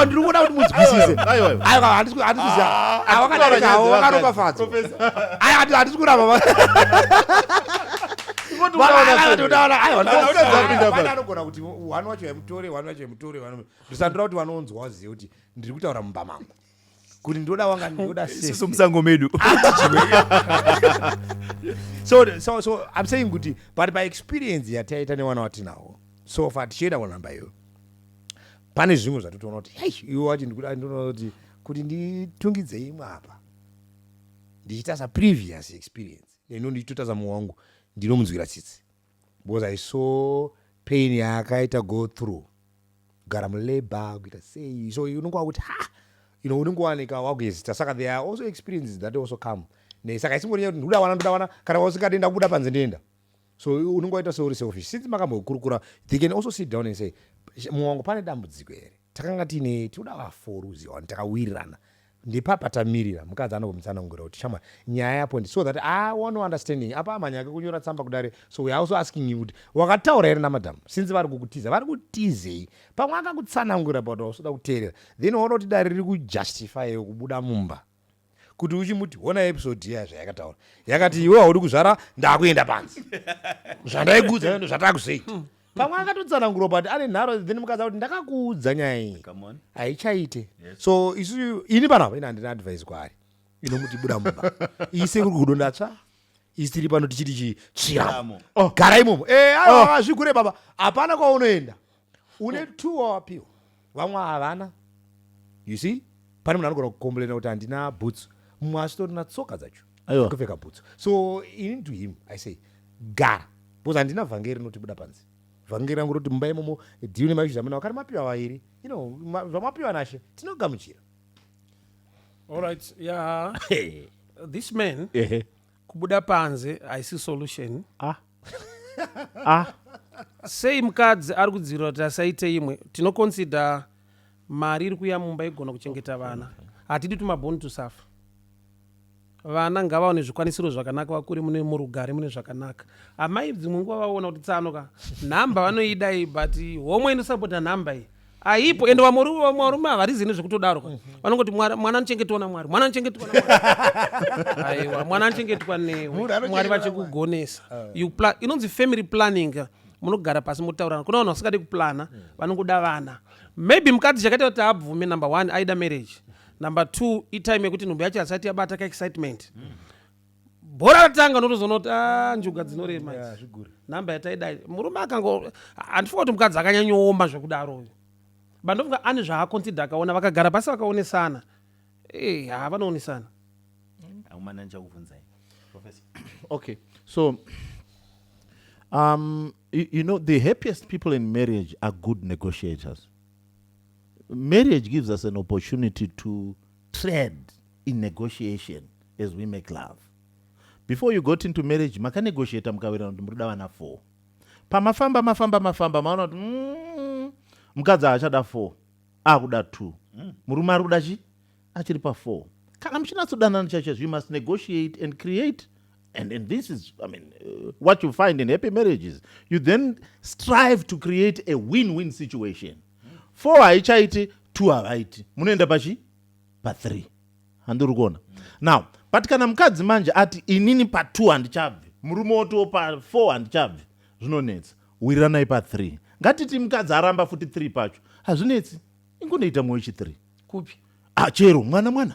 ndiri kuona kuti munzwisise handikuziva awakadarikawo wakaropafadzwa Aya ati ati sikura baba. Ngoti Baba unaona aya ati sei? unaona aya. Kana unaona usina sei? kupinda Baba basi. anogona kuti wani wacho yamutore wani wacho yamutore wani ndisandira kuti vanonzwa vazive kuti ndiri kutaura mumba mangu kuti ndoda wanga ndoda Isusu safe. musango medu. so so so i'm saying kuti but by experience yataita nevana watinawo so far tichienda kunhamba iyo pane zvimwe zvatotoona kuti hei iwe wacho ndikuda ndoona kuti kuti nditungidzei imwe apa ndichitaza previous experience neno ndichitotaza mumwe wangu ndinomunzwira tsitsi because i saw pain yaakaita go through kugara mulabor kuita sei so unenge wakuti ha you know unenge wanika wakuhesita saka there are also experiences that also come ne saka isingori kuti ndikuda wana ndoda wana kana usingadi ndakubuda panze ndienda so unenge waita seuri selfish since makambokurukura they can also sit down and say mumwe wangu pane dambudziko here takanga tiine tinoda vafour uziva wani takawirirana ndipapa tamirira mukadzi anobomutsanangura kuti shamwari nyaya yapo ndi so that i want no understanding apa amhanya ake kunyora tsamba kudare so weare also asking you kuti wakataura here namadam since vari kukutiza vari kutizei pamwe akakutsanangura but wausoda kuteerera then waona kuti dare riri kujustifyewo kubuda mumba kuti uchimuti hona episode iya zvayakataura yakati iwe haudi kuzvara ndakuenda panzi zvandaikuudza zvatakusei hmm. pamwe akatotsanangurwa but ane nharo then mukaza kuti ndakakuudza nyaya iyi haichaite so isu ini panapa ini handina advise kwaari inomuti buda mumba ise kuri kudo ndatsva isi tiri pano tichiti chitsviramo oh. gara imomo eh, oh. azvigure baba hapana kwaunoenda une two wawapiwa vamwe havana you see pane munhu anogona kukomblena kuti handina bhutsu mumwe asitori na tsoka dzacho Aiwa. kupfeka bhutsu so ini to him i say gara because handina vhangeri rinotibuda panze vhangeri rangu roti mumba imomo diu nemaizvi zamana wakati mapiwa vairi you know ma- zvamapiwa nashe tinogamuchira All right. Yeah. Hey. This man Ehe. kubuda panze haisi solution ah. ah. sei mukadzi ari kudzivirira kuti asaite imwe tinoconsider mari iri kuya mumba igona kuchengeta vana hatidi tumaboni tusafa vana ngavaone zvikwanisiro zvakanaka vakure mune murugare mune zvakanaka amai dzimwe nguva vaona kuti tsano ka nhamba vanoidai but homwe inosapota nhamba iyi aipo ende vamwe ru- vamwe varume havarizi nezvekutodaro ka vanongoti "Mwari- mwana anochengetwa namwari mwana anochengetwa namwari." aiwa mwana anochengetwa Munhu newe anochengetwa mwari namwari. vachikugonesa You pla- inonzi family planning ka. munogara pasi motaurana kuna vanhu vasingadi kuplana vanongoda vana maybe mukadzi chakaita kuti abvume number one aida marriage number two itime yekuti nhumbu yacho hasati yabata kaexcitement bhora ratanga unotozoona kuti a ah, njuga dzinorema nhamba yataidai murume akango handifunga kuti mukadzi akanyanyooma zvekudaro uyu but ndofunga ane zvaakonsidha akaona vakagara pasi vakaonesana eh, ha vanowonesana okay so um, you, you know the happiest people in marriage are good negotiators marriage gives us an opportunity to trend in negotiation as we make love before you got into marriage makanegotiata mukawirirana kuti murida vana four pamafamba mafamba mafamba maona kuti mm, mukadzi haachada four akuda two mm. murume ari kuda chi achiri pafour kana muchinatsodanana chacho you must negotiate and create and, and this is i mean uh, what you find in happy marriages you then strive to create a win-win situation four haichaiti two havaiti munoenda pachi pathree handiri kuona now but kana mukadzi manje ati inini patwo handichabvi murume wotiwo pafour handichabvi zvinonetsa wiriranai pathree ngatiti mukadzi aramba futi three pacho hazvinetsi ingonoita mwoyo chithree kupi ah, chero mwana mwana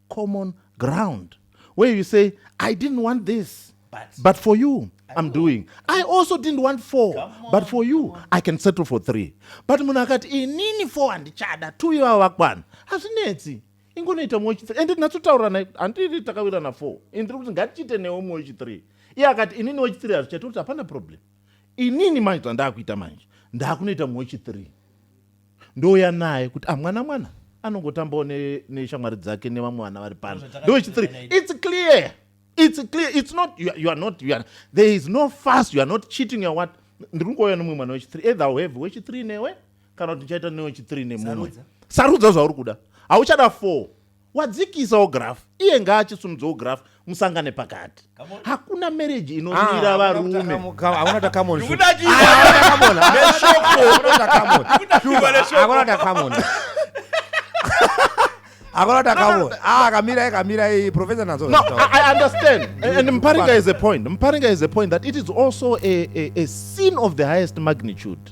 common ground where you say i didn't want this but, but for you I'm doing. I also didn't want four, on, but for you, I can settle for three. But munhu akati inini four handichada, two ivava vakwana. Hazvinetsi. Ingonoita mumwe wechithree. And ndinatsotaura naye, handiri takawirana four. And ndiri kuti ngatichiite newe mumwe wechithree. Iye akati inini wechithree hazvichaita kuti hapana problem. Inini manje zvandakuita manje, ndakunoita mumwe wechithree. ndouya naye kuti ah mwana mwana anongotambawo neshamwari dzake nevamwe vana vari pano ndochitiri its clear its clear its not you are, you are not you are, there is no fast you are not cheating you are what ndiri kungouya nomumwe mwana wechithree either uhave wechithree newe kana kuti ndichaita newechithree nemunwe sarudza zvauri kuda hauchada four wadzikisawo graph iye ngaachisumudzawo graph musangane pakati hakuna marriage inomira ah, varume akamira ikamira iyi professor nazo no, I, i understand and mparinga is a point mparinga is a point that it is also a, a, a sin of the highest magnitude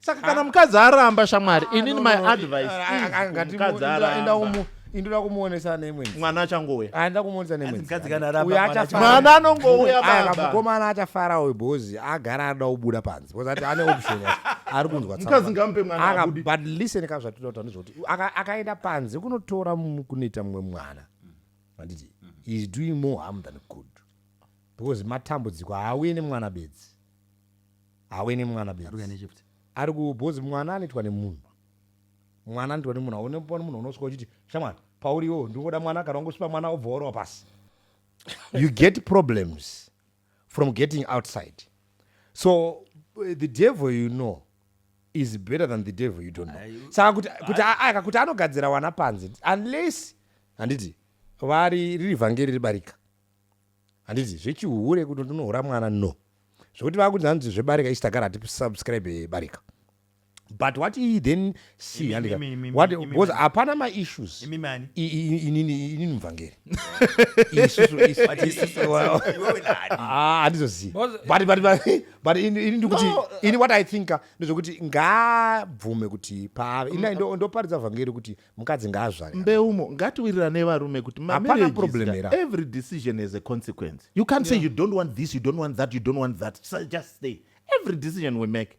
saka kana mukadzi aramba shamwari ah, inini my advice ah, ah, mukadzi aramba indoda kumuonesa neimwe mwana achangouya aenda kumuonesa neimwemwana anongouya baba mukomana achafara uyu bhozi agara anoda kubuda panze bhozi ati ane option ari kunzwa mukadzi ngamupe mwana akabudi but listen ka zvatinoda kutaura ndezvekuti akaenda panze kunotora kunoita mumwe mwana handiti is doing more harm than good because matambudziko haauye nemwana bedzi Hauye nemwana bedzi. Ari kuya nechift. Ari ku bozi mwana anoitwa nemunhu. Mwana anoitwa nemunhu haune pane munhu unosvika uchiti shamwari pauri iwewe ndingoda mwana kana ungosvipa mwana obva warowa pasi. You get problems from getting outside. So the devil you know is better than the devil you don't know. Ayu. Saka kuti kuti aka kuti anogadzira wana panze unless handiti vari riri vhangeri ribarika. handiti zvechihure kuti ndinohura mwana no zvekuti vakuti hanzi zvebarika isi tagara hatisubscribe barika but what he then see handika because hapana maissues inini mvhangeri handizozivabutt ini ndikuti ini what i thinka ndezvekuti ngaabvume kuti paave ini ndoparidza vhangeri kuti mukadzi ngaazvare mbeumo ngatiwirirane varume kuti every decision has a consequence you can't yeah. say you don't want this you don't want that you don't want that so just stay every decision we make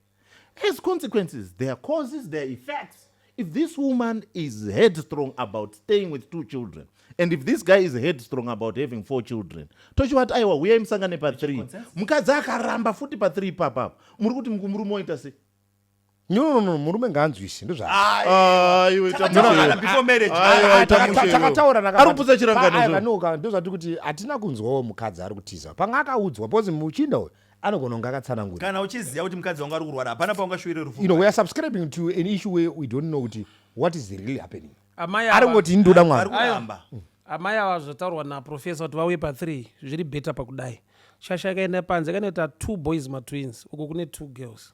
has consequences there are causes there are effects if this woman is headstrong about staying with two children and if this guy is headstrong about having four children tochivati aiwa huyai musangane pa3 mukadzi akaramba futi pa3 ipapapo muri kuti murume oita sei No, no, no, murume ngaanzwise ndozvatakataura nakaanoka ndozvati kuti hatina kunzwawo mukadzi ari kutiza panga akaudzwa because muchinda uyu anogona kunge akatsanangura kana uchiziva kuti mukadzi wangu ari kurwara hapana paungashuvire rufu you know, we are subscribing to an issue where we don't know kuti what is really happening ari kungoti ndoda mwari amai ava zvataurwa naprofesa kuti vauye pathree zviri beta pakudai shasha ikaenda panze kanoita two boys matwins uko kune two girls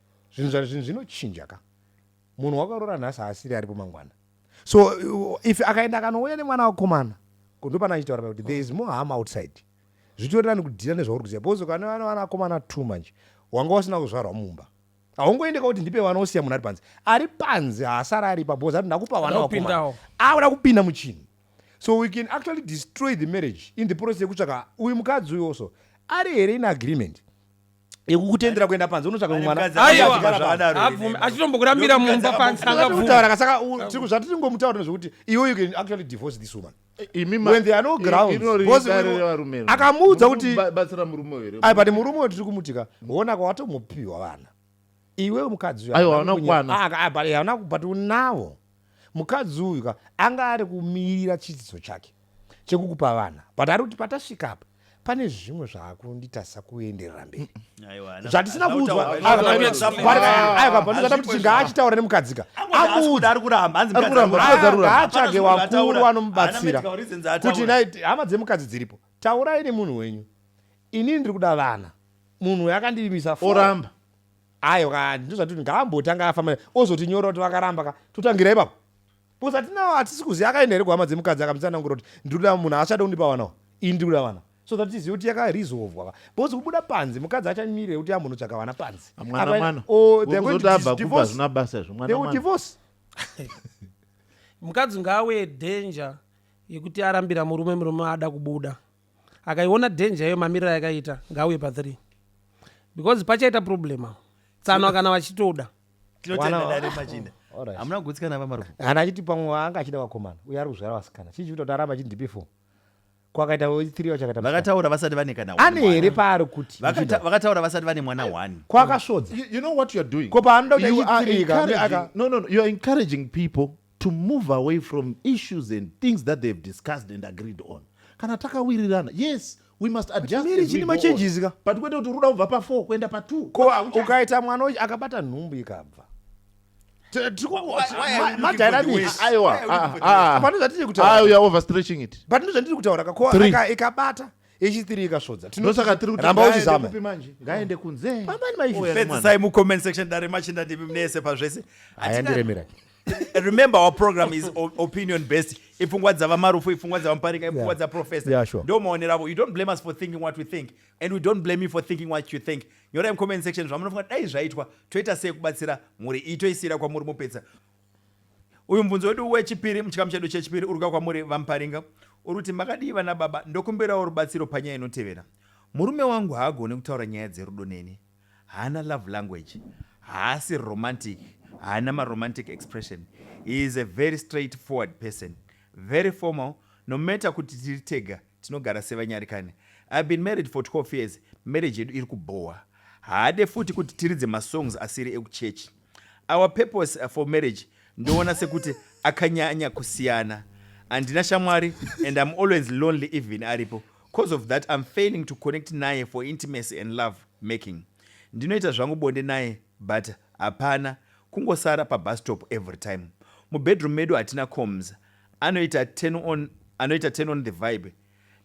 Zvinhu zva zvinhu zvinochinja ka. Munhu wakarora nhasi haasiri aripo mangwana. So if akaenda akanouya nemwana wakomana ko ndopana achitaura kuti there is more harm outside. Zvitori nani kudhira nezvauri kuziva because kana vana vana akomana two manje wanga usina kuzvarwa mumba. Haungoendeka kuti ndipe vana osiya munhu ari panze. Ari panze haasara ari pa because ati ndakupa vana wakomana. Akuda kupinda muchinhu. So we can actually destroy the marriage in the process yekutsvaka uyu mukadzi uyu also ari here in agreement. yekukutendera kuenda panze unotsvaga mumwe mwana Aiwa. Achigara panze. Zvadaro Abvume ine. achitombokurambira Ndokuti mumba kadzaka panze Zvatiri angabvume. kutaura ka, saka u- tiri- zvatiri ngomutora ndezvekuti iwe you can actually divorce this woman imi ma- when there are no i- grounds inori Because dare we- revarume iri. akamuudza Muri kuti kuba- batsira murume uyu here? ai but murume uyo tiri kumutika hona kwawatomupiwa vana iwe mukadzi uyu aiwa hauna kukwana ah, ah, hauna but unawo mukadzi uyu ka anga ari kumirira chidzidzo chake chekukupa vana but ari kuti patasvika apa pane zvimwe zvaakunditasa kuenderera mberi zvatisina kuudzwapanozata kuti ngaachitaura nemukadzika amuudzatsvage wakuru anomubatsira kuti hama dzemukadzi dziripo taurai nemunhu wenyu inini ndiri kuda vana munhu uyo akandirimisa oramba aiwa ndizvati kuti ngaambotanga afamba ozotinyora kuti vakaramba ka totangira ipapo bcause atinawo hatisi kuziva akaenda here kuhama dzemukadzi akamutsanangura kuti ndiri kuda munhu haachada kundipa vanawo ini ndiri kuda vana so that tizive kuti yakarizovwa bcause kubuda panzi mukadzi achamirire kuti ambonotsvaga vana panzi divorce mukadzi ngawe danger yekuti arambira murume murume ada kubuda akaiona danger iyo mamiriro ayakaita ngauye pa 3 because pachaita problem awo tsanwa kana vachitoda tinotenda Wana- dare machinda Alright. hamuna kugutsikana vamarufu kana achiti pamwe waanga achida vakomana uye ari kuzvara vasikana chii chikuita kuti aramba achiti ndipi four kwakaita three wachakaita musikana. vakataura vasati vane kana one ane mwana. here paari kuti Vakata- Muchinda? vakataura vasati vane mwana one kwakasvodza You, you know what you're doing? Ko paanoda kuti You are achitirika, encouraging- aka- No, no, no. You're encouraging people to move away from issues and things that they have discussed and agreed on kana takawirirana yes we must adjust miri chini machanges ka but kwete kuti uruda kubva pa 4 kuenda pa 2 ko ukaita mwana uchi akabata nhumbu ikabva panozvatiri kutaura kakoikabata yechitiri ikasvodza tinosaka tiri kutiramba uchizama ngaende kunze pambani maipedzisai mucomment section dare machinda ndimi mnese pazvese ayandiremera remember our program is o- opinion based ipfungwa dzavamarufu ipfungwa dzavamuparika ipfungwa Yeah. dzaprofesa Yeah, sure. ndo maonero avo you don't blame us for thinking what we think and we don't blame you for thinking what you think nyorai mucomment section zvamunofunga dai zvaitwa toita sei kubatsira mhuri iyi toisiyira kwamuri mopedza uyu mubvunzo wedu wechipiri muchikamu chedu chechipiri uri kuuya kwamuri vamuparinga uri kuti makadii vana baba ndokumbirawo rubatsiro panyaya inotevera murume wangu haagone kutaura nyaya dzerudo neni Haana love language, haasi romantic, haana maromantic expression, he is a very straight forward person, very formal, no matter kuti tiri tega tinogara sevanyarikani. I've been married for 12 years, marriage yedu iri kubhowa. Haade futi kuti tiridze masongs asiri ekuchechi. Our purpose uh, for marriage ndoona sekuti akanyanya kusiyana. Andina shamwari and I'm always lonely even aripo. Cause of that I'm failing to connect naye for intimacy and love making. Ndinoita zvangu bonde naye but hapana kungosara pabus stop every time. Mubedroom medu hatina coms. Anoita turn on, anoita turn on the vibe.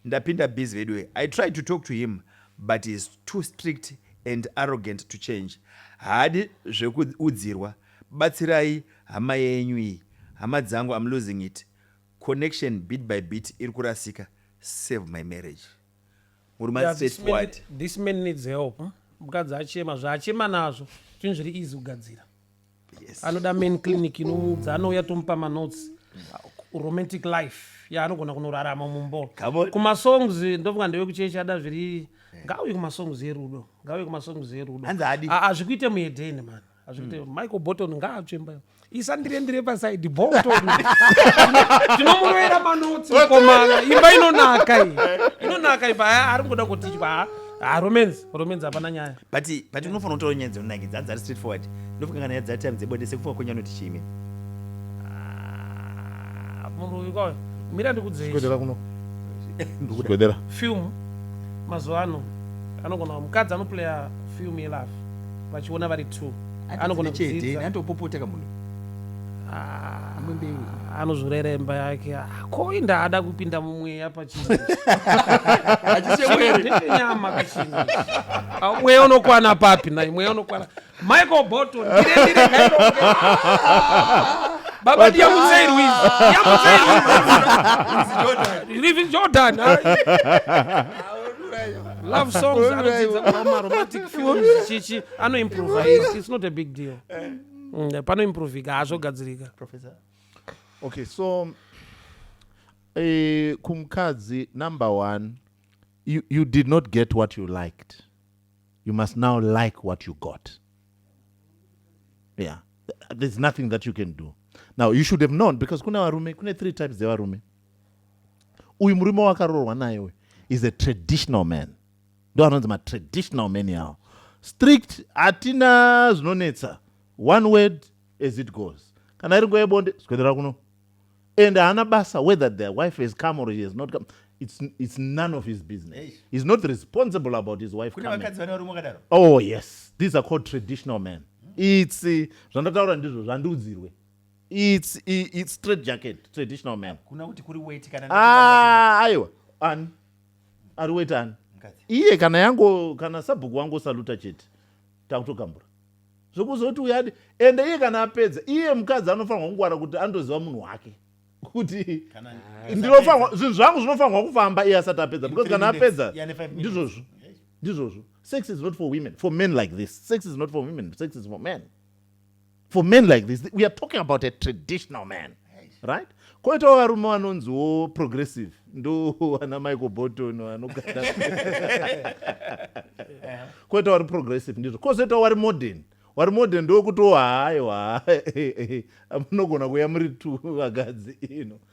Ndapinda busy veduwee. I tried to talk to him but he is too strict and arrogant to change. Haadi zvekuudzirwa. Batsirai hama yenyu iyi. Hama dzangu I'm losing it. Connection bit by bit iri kurasika. Save my marriage. Murume Yeah, asi this man, straightforward. this man needs help. Mukadzi achema zvaachema nazvo zvinhu zviri easy kugadzira. yes. anoda main clinic inomuudza anouya tomupa manotes romantic life yaanogona kunorarama mumbo Come on. kumasongs ndofunga ndewe kuchechi ada zviri ngauye kumasongs erudo ngauye kumasongs erudo Hanzi haadi. Ah, hazvikuite muedheni mani hazvikuite michael bolton ngaatsvemba isandire ndire pasaidi bolton tinomuroera manotsi mukomana imba inonaka iyi inonaka imba Ah, ari kungoda kutidya Ah, ah, romance romance hapana nyaya but but unofanira kutaura nyaya dzinonakidza hanzi ari straight forward ndofunga kana nyaya dzatime dzebonde sekufunga kwenyu anoti chii imimi Ah, munhu uyu kwayo mira ndikudzei Chigodera kuno. ndikuda Chigodera. film mazuva ano anogona mukadzi anoplaya film yelove vachiona vari two anogona kudzidza atopopota kamunhu Ah, Imwe mbeu. anozorera imba yake Ah, ko inda ada kupinda mumweya pachii nenyama kachini Ah, mweya unokwana papi nai mweya unokwana michael bolton ndire ndire kairo baba ndiyamutsei ruizi ndiyamutsei ruizi livi jordan ah. love songs anodzidza kuva maromantic films chichi anoimprova it's not a big deal mm, panoimprovika hazvogadzirika professor okay so eh, kumukadzi number one you, you did not get what you liked you must now like what you got yeah there's nothing that you can do now you should have known because kune varume kune three types dzevarume uyu murume wakarorwa naye uyu is a traditional man ndo anonzi matraditional many awo strict hatina zvinonetsa one word as it goes kana iri nguva yebonde zvikwendera kuno and haana basa whether the wife has come or he has not come it's, it's none of his business Eish. he's not responsible about his wife oh yes these are called traditional men it's uh, zvandataura ndizvo zvandiudzirwe it's, it's straight jacket traditional men ah, aiwa ani ari wetani iye kana yango kana sabhuku wangu saluta chete takutogambura zvokuzoti uyadi ende iye kana apedza iye mukadzi anofanirwa kungwara kuti anotoziva munhu wake kuti ndinofanirwa zvinhu zvangu zvinofanirwa kufamba iye asati apedza because kana apedza ndizvozvo ndizvozvo sex is not for women for men like this sex is not for women sex is for men for men like this we are talking about a traditional man right koitawo varume vanonziwo progressive ndo ana michael bolton vanogara koitawo vari progressive ndizvo kozoitawo wari modern wari modern ndokutowa hayo ha munogona kuya muri tu vakadzi ino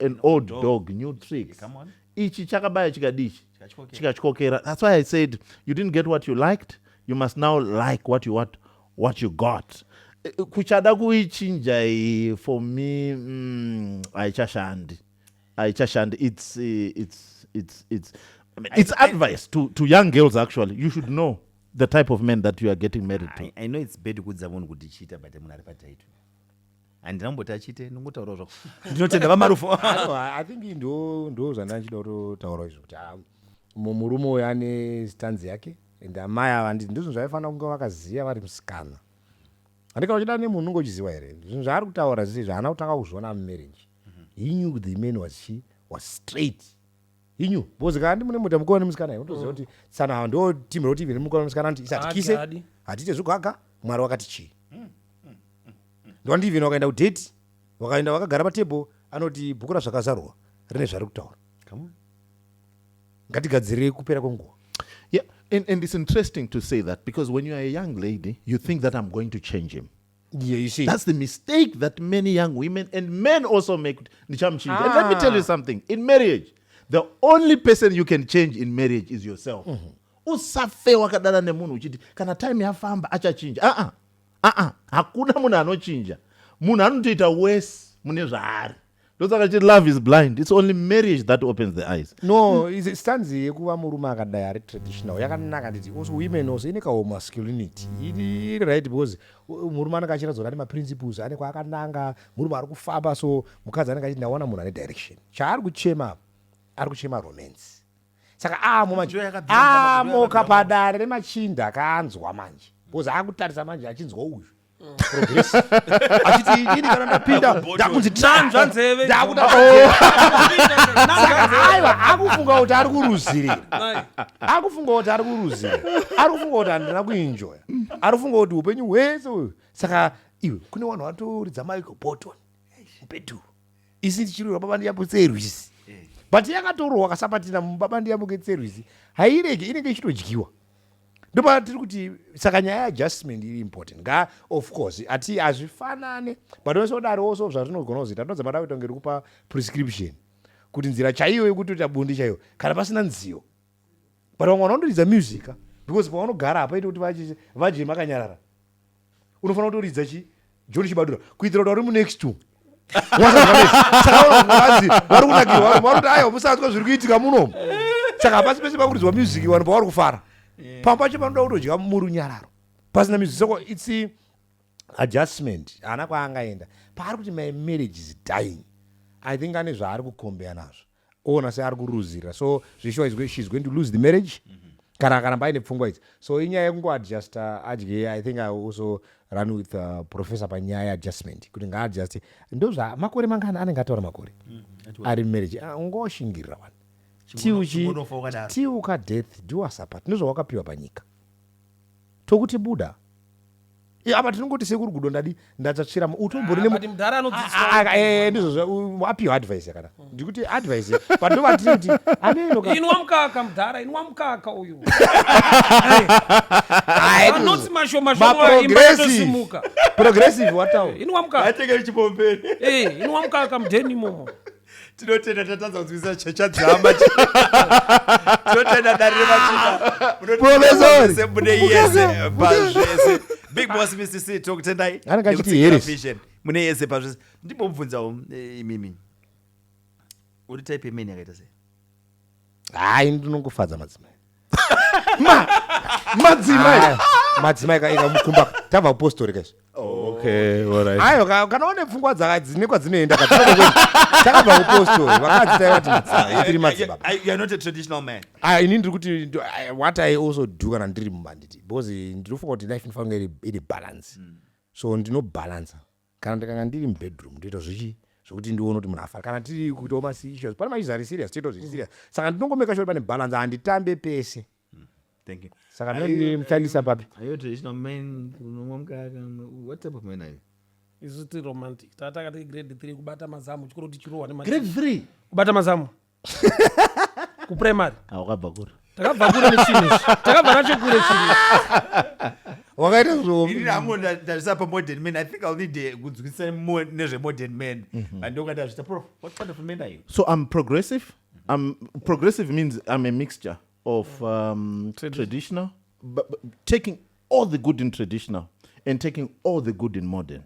an old dog, dog new tricks come on ichi chakabaya chikadi ichi chikatyokera that's why i said you didn't get what you liked you must now like what you what, what you got eh, eh, kuchada kuichinja iyi for me mm, haichashandi mm, haichashandi it's, eh, it's, it's, it's, I mean, it's I, advice I, to, to young girls actually you should know the type of men that you are getting married to i, I know it's bad kudza munhu kuti chiita but munhu ari pataito handina kumboti achite ndingotaurawo zvako ndinotenda vamarufo i think ndo ndo zvandanga ndichida kutotaurawo izvo kuti ah, mu- murume uyo ane stanzi yake and amai ava handi- ndizvo zvaifanira kunge vakaziva vari musikana handikana uchida nemunhu unenge uchiziva here zvinhu zvaari kutaura zvese izvi haana kutanga kuzviona mumarriage he knew the man was she was straight inyu because kana ndimune muta mukona nemusikana iyo unotoziva kuti tsana hawa ndo team roti even mukona nemusikana anoti isatikise Haadi. hatiite zvogaga mwari wakati chii ndowandi even wakaenda kudate wakaenda wakagara patable anoti bhuku razvakazarurwa rine zvari kutaura Come on. ngatigadzirei kupera kwenguva Yeah, and, and it's interesting to say that because when you are a young lady, you think that I'm going to change him. Yeah, you see. That's the mistake that many young women and men also make. Ndichamchinja. Ah. And let me tell you ah. something. In marriage, the only person you can change in marriage is yourself. Mm-hmm. usafe wakadana nemunhu uchiti kana time yafamba achachinja aa ah, aa ah, ah, hakuna munhu anochinja munhu anotoita wese mune zvaari ndosaka chiti love is blind its only marriage that opens the eyes no mm. stanzi yekuva murume akadai ari traditional yakanaka nditi also women also ine kahomasculinity iri right because murume anenge achiratidza kuti ane maprinciples ane kwaakananga murume ari kufamba so mukadzi anenge achiti ndaona munhu ane direction chaari kuchema apa ari kuchema romance saka amo manje amoka padare remachinda akaanzwa manje because akutarisa manje achinzwa uyu achiti inini kana ndapinda ndakunzi Nanzva nzeve. ndakuda aiwa akufunga kuti ari kuruzirira Mai, akufunga kuti ari kuruzira ari kufunga kuti handina kuinjoya ari kufunga kuti upenyu hwese uyu saka iwe kune vanhu vatoridza maiko botton mubhedhu isi tichirwira baba ndiyapo tserwisi but yakatorohwa kasapatina mubaba ndiyapo ketserwisi hairege inenge ichitodyiwa ndopaatiri kuti saka nyaya yeadjustment iri important nga of course ati hazvifanane but wese udarowo so zvazvinogona kuzoita ndinonzi mada kuita kunge rikupa prescription kuti nzira chaiyo yekutoita bundi chaiyo kana pasina nziyo but vamwe vanotoridza musica because pavanogara hapaite kuti vadye makanyarara unofanira kutoridza chi john chibadura kuitira kuti vari munext to sakaanzi vari kunakirwa vanhu vakuti aiwa musanzwa zviri kuitika munomu saka hapasi pese pakuridzwa music vanhu pavari kufara eh. pamwe pacho panoda kutodya muri unyararo pasina music soko its adjustment haana kwaangaenda paari kuti my marriage is dying i think ane zvaari kukombeya nazvo oona seari kuruzira so zveshuwa is going, she's going to lose the marriage mm -hmm. kana akaramba aine pfungwa idzi so inyaya yekungoadjusta adye i think i also run with uh, professor panyaya yeadjustment kuti ngaadjuste ndozva makore mangani anenge ataura makore mm -hmm. ari marriage ah, ungoshingirira wani tiuka death do us apart ndozvawakapiwa panyika tokuti buda apa tinongoti sekuru gudo ndadi ndatsvatsvira utombori ah, ah, ah, eh, ndizvo apiwa advice yakada hmm. ndikuti advice patova tinoti anenoinwa mukaka mudhara inwa mukaka uyu anoti mashomashomaimbaaosimuka progressive watawo inwa mukaka eh, inwa mukaka mudheni imomo tinotenda tatadza kunzwisisa checha dzehama tinotenda dare revachinamunotiaesemune yese pazvese big boss mcc tokutendai anenge achiti here mune yese pazvese ndimbomubvunzawo eh, imimi uri type yemeni yakaita sei hayi ndinongofadza madzimai ma madzimai Aya, madzimai ka- ika mukumba tava upostori kaizvo okay all right ayo ka- kana une pfungwa dzaka- dzine kwadzinoenda ka, tinoda kuti- takabva upostori vakadzi taiva ti madzimai tiri madzibaba I- You're not a traditional man. Ah, ini ndiri kuti ndo- I- what i also do kana ndiri mumanditi because ndinofunga kuti life inofanira kunge iri- iri balance so ndinobalansa Kana ndikanga ndiri mubedroom ndoita zvichi zvekuti ndione kuti munhu afara kana tiri kuitawo masissues pane machis ari serious toitawo zviri serious saka ndinongomeka sure pane balance handitambe pese Thank you. saka Are you- ndinotandisa papi Are you a traditional man? Unomwa mukaka? What type of man are you? isu tiri romantic tatanga tiri grade three kubata mazamu chikoro tichirohwa nemati Grade three. kubata mazamu kuprimary Ah, wakabva kuri takabva kure nechinhu ichi takabva nacho kure chinhu wakaita Ini zvihomi ndango nda- ndazvisa pamodern man i think ill need eh, kunzwisisa mo- nezvemodern man but ndoka ndazvita prof what kind of men are you so i'm progressive i'm progressive means i'm a mixture of um, traditional but, but taking all the good in traditional and taking all the good in modern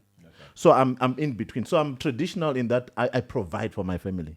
so i'm, I'm in between so i'm traditional in that i, I provide for my family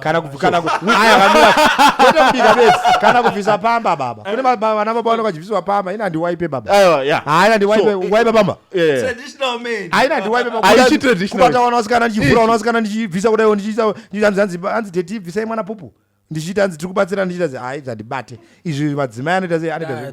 kana kana kubika bese kana kubvisa pamba baba kune vana baba vanenge vachibviswa pamba ina ndiwaipe baba haina ndiwaipe waipe pamba haina ndiwaipe kubata wana wasikana ndichivhura wana wasikana ndichibvisa kudaiwo ndichiisa hanzi teti bvisai mwana pupu ndichiita hanzi tiri kubatsira ndichiita hai zvandibate izvi madzimai anoita sei anoita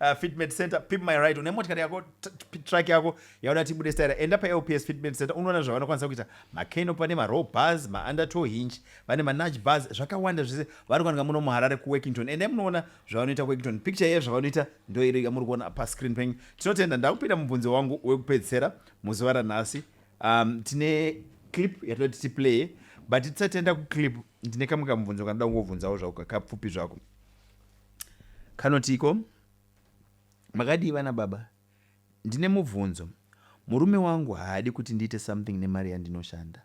Uh, fitment center pip my right une motikari yako truck yako yauda tibude staira enda palps fitment center unoona zvavanokwanisa kuita macano pane marow bars maundertow hinch vane manage bars zvakawanda zvese vanokanika muno muharare kuworkington ende munoona zvavanoita kuworkington picture yeye zvavanoita ndoiri yamuri kuona pascreen penyu tinotenda ndakupinda mubvunzo wangu wekupedzisera muzuva ranhasi um, tine clip yatinoti tiplay but tisatenda kuclip ndine kamwe kamubvunzo kanoda kungobvunzawo zvako kakapfupi zvako Kanotiko? Makadii vana baba? Ndine mubvunzo. Murume wangu haadi kuti ndiite something nemari yandinoshanda.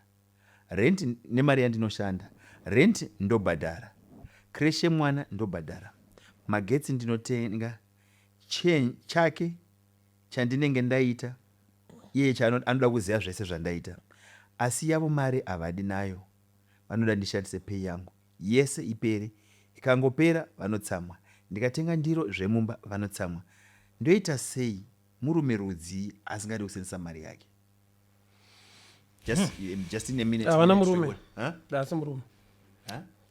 Rent nemari yandinoshanda. Rent ndobhadhara. Crash yemwana ndobhadhara. Magetsi ndinotenga. Chen chake chandinenge ndaita iye chano anoda kuziva zvese zvandaita. Asi yavo mari havadi nayo. Vanoda ndishandise pay yangu. yese ipere ikangopera vanotsamwa ndikatenga ndiro zvemumba vanotsamwa ndoita sei murume rudzii asingadi kusenzesa mari yake just, hmm. just in a minute havana murume haasi murume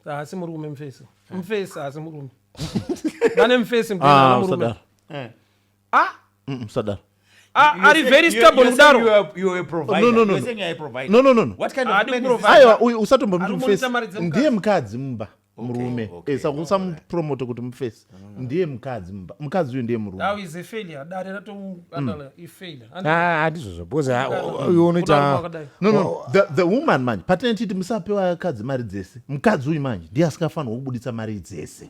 haasi murume mfesi mfesi haasi murume vane mfesi mfesi ah, ah mm, sadaro ah, ari very stable kudaro aiwa uyu usatombomufesi ndiye mukadzi mumba murume eh, sakusamupromote kuti mufesi mm. ndiye mukadzi mumba mukadzi uyu ndiye murumeandizvozvo because uyu unoitanthe woman manje patinetiti musapewa kadzi mari dzese mukadzi uyu manje ndiye asikafanirwa kubuditsa mari dzese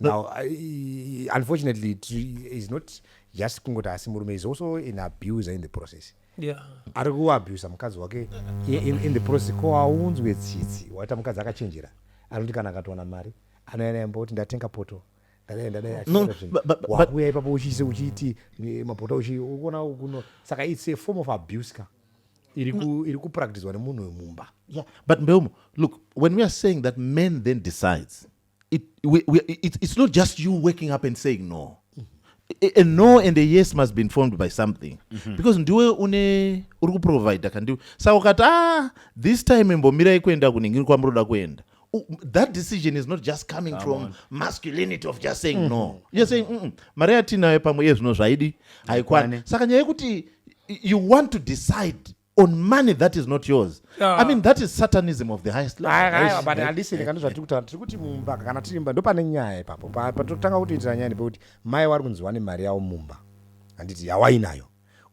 no. now uh, unfortunately is not just kungoti asi murume is also an abuser in the process yeah. ari kuabusa mukadzi wake in, in the process ko aunzwe tsitsi waita mukadzi akachenjera anoti kana akatowana mari anoyana yamba kuti ndatenga poto wakuya ipapo uchiise uchiiti eh, mapota uchiona kuno saka its a form of abuse ka iri mm. kupractiswa nemunhu wemumba yeah but mbeumo look when we are saying that men then decides it, we, we, it, it's not just you waking up and saying no a, a no and a yes must be informed by something mm -hmm. because ndiwe une uri kuprovider kandiwe saka ukati ah this time imbomirai kuenda kuningini kwamuri kuda kuenda that decision is not just coming Come from on. masculinity of just saying mm -hmm. no mm-hmm. you're saying mm -mm, mari yatinayo pamwe iye zvino zvaidi haikwane saka nyaya yekuti you want to decide on money that is not yours yeah. i mean that is satanism of the highest levelbutalisirikani zvatiri kutaura tiri kuti mumba kana tiri mumba ndopane nyaya ipapo patotanga kutoitira nyaya nepekuti mai wari kunzi wane mari yavo mumba handiti yawainayo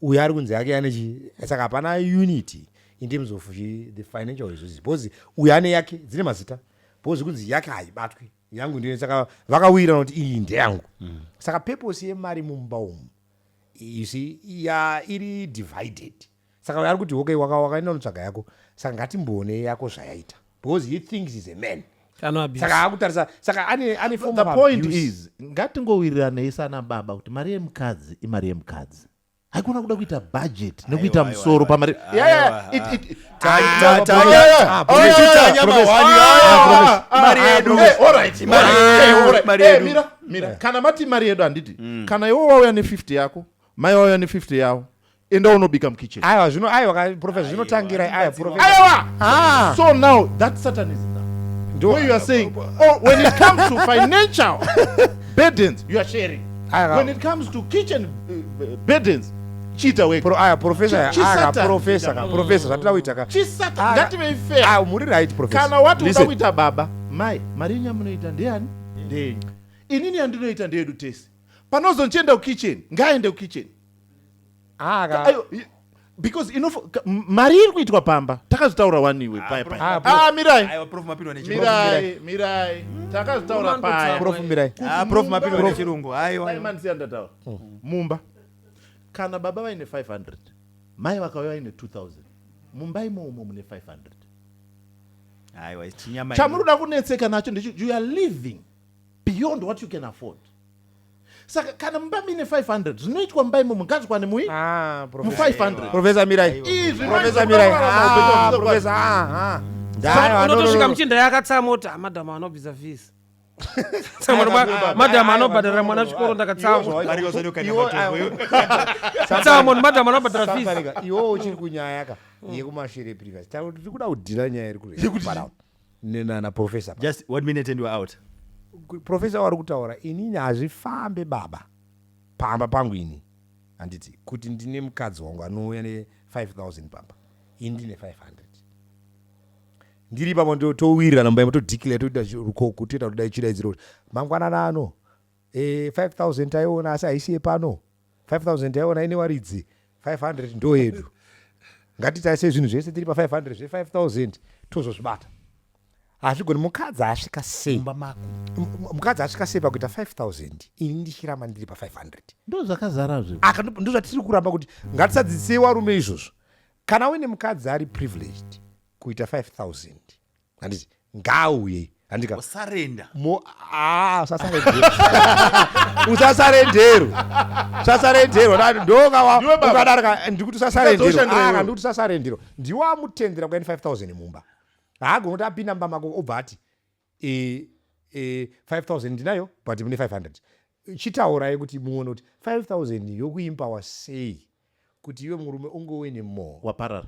uyo ari kunzi yake ane chi saka hapana unity in terms of the financial resources because uyo ane yake dzine mazita because kunzi yake haibatwi yangu ndiyo saka vakawira noti iyi ndeyangu mm. saka purpose yemari mumba umu you see ya iri divided saka ari kuti okay waka wakaenda unotsvaga yako saka ngatimboone yako zvayaita because he thinks is a man saka akutarisa saka ane ane form the point abuse. is ngatingowiriranei sana baba kuti mari yemukadzi imari yemukadzi haikona kuda kuita budget nekuita musoro pamari yeah, yeah, it, it, kana mati mari yedu handiti mm. kana iwo wauya ne 50 yako mai wauya ne 50 yavo enda unobika mukitchen aiwa zvino aiwa profesa zvinotangira aiwa profesa aiwa ah. so now that satan is now do what you are saying oh when it comes to financial burdens you are sharing when it comes to kitchen uh, burdens chiita wega pro aya professor aya aka professor ka professor zvatira kuita ka chisata ngative fair ah muri right professor kana wati unoda kuita baba mai mari yenyu yamunoita ndeyani ndeyenyu inini yandinoita ndeyedu tese panozonchienda kukitchen ngaaende kukitchen aka because ino mari iri kuitwa pamba takazotaura wani iwe ah, paya paya ah mirai mirai mirai takazotaura paya prof mirai ah, prof mapindwa nechirungu aiwa mumba kana baba vaine 500 mai vakauya vaine 2000 mumba imoumo mune 500 aiwa chinyama chamunoda kunetseka nacho ndicho you are living beyond what you can afford saka kana mumba mine 500 zvinoitwa mumba imomo ngazvikwane mui Ah, mu professor. 500 profesa mirai Izvi profesa mai- mirai Ah, profesa, ah, ah. Saka Dai, ah, no, no, unotosvika no, no. muchinda yakatsamota madam anobvisa fees madam anobhadhara mwana chikoro ndakatsamwasamon madam anobhadhara fees iwewo uchiri kunyaya ka mm. yekumashure previous tauri tiri kuda kudhina nyaya iri kureparao nenana professor just one minute and you are out professor wari kutaura inini hazvifambe baba pamba pangu ini handiti kuti ndine mukadzi wangu anouya ne 5000 pamba ini ndine 500 ndiri ipapo ndo- towirirana mumba imo todeclare toita zvi- rukoko toita kudai chidaidziro kuti mangwanana ano eh, 5000 taiona asi haisi yepano 5000 taiona ine waridzi 500 ndo yedu ngatitarise zvinhu zvese tiri pa 500 zve 5000 tozozvibata hazvigoni mukadzi asvika sei mumba mako M- m- mukadzi asvika sei pakuita 5000 ini ndichiramba ndiri pa 500 ndo zvakazara zve Aka ndo- ndozvatiri kuramba kuti ngatisadzidzisei warume izvozvo kana uine mukadzi ari privileged kuita 5000 handiti ngaauye handika usarenda mo ah usasarendero usasarendero usasarendero Na- ndonga wa- Ndiwe baba. ukadarika ndikuti usasarendero Ndikazoshandira Ah, iwewe. ndikuti usasarendero ndiwo amutendera kuya ne 5000 mumba haagoni kuti apinda mumba mako obva ati e, e, 5000 ndinayo but mune 500 chitaurai kuti muone kuti 5000 yokuimpawa sei kuti iwe murume ungowe nemore waparara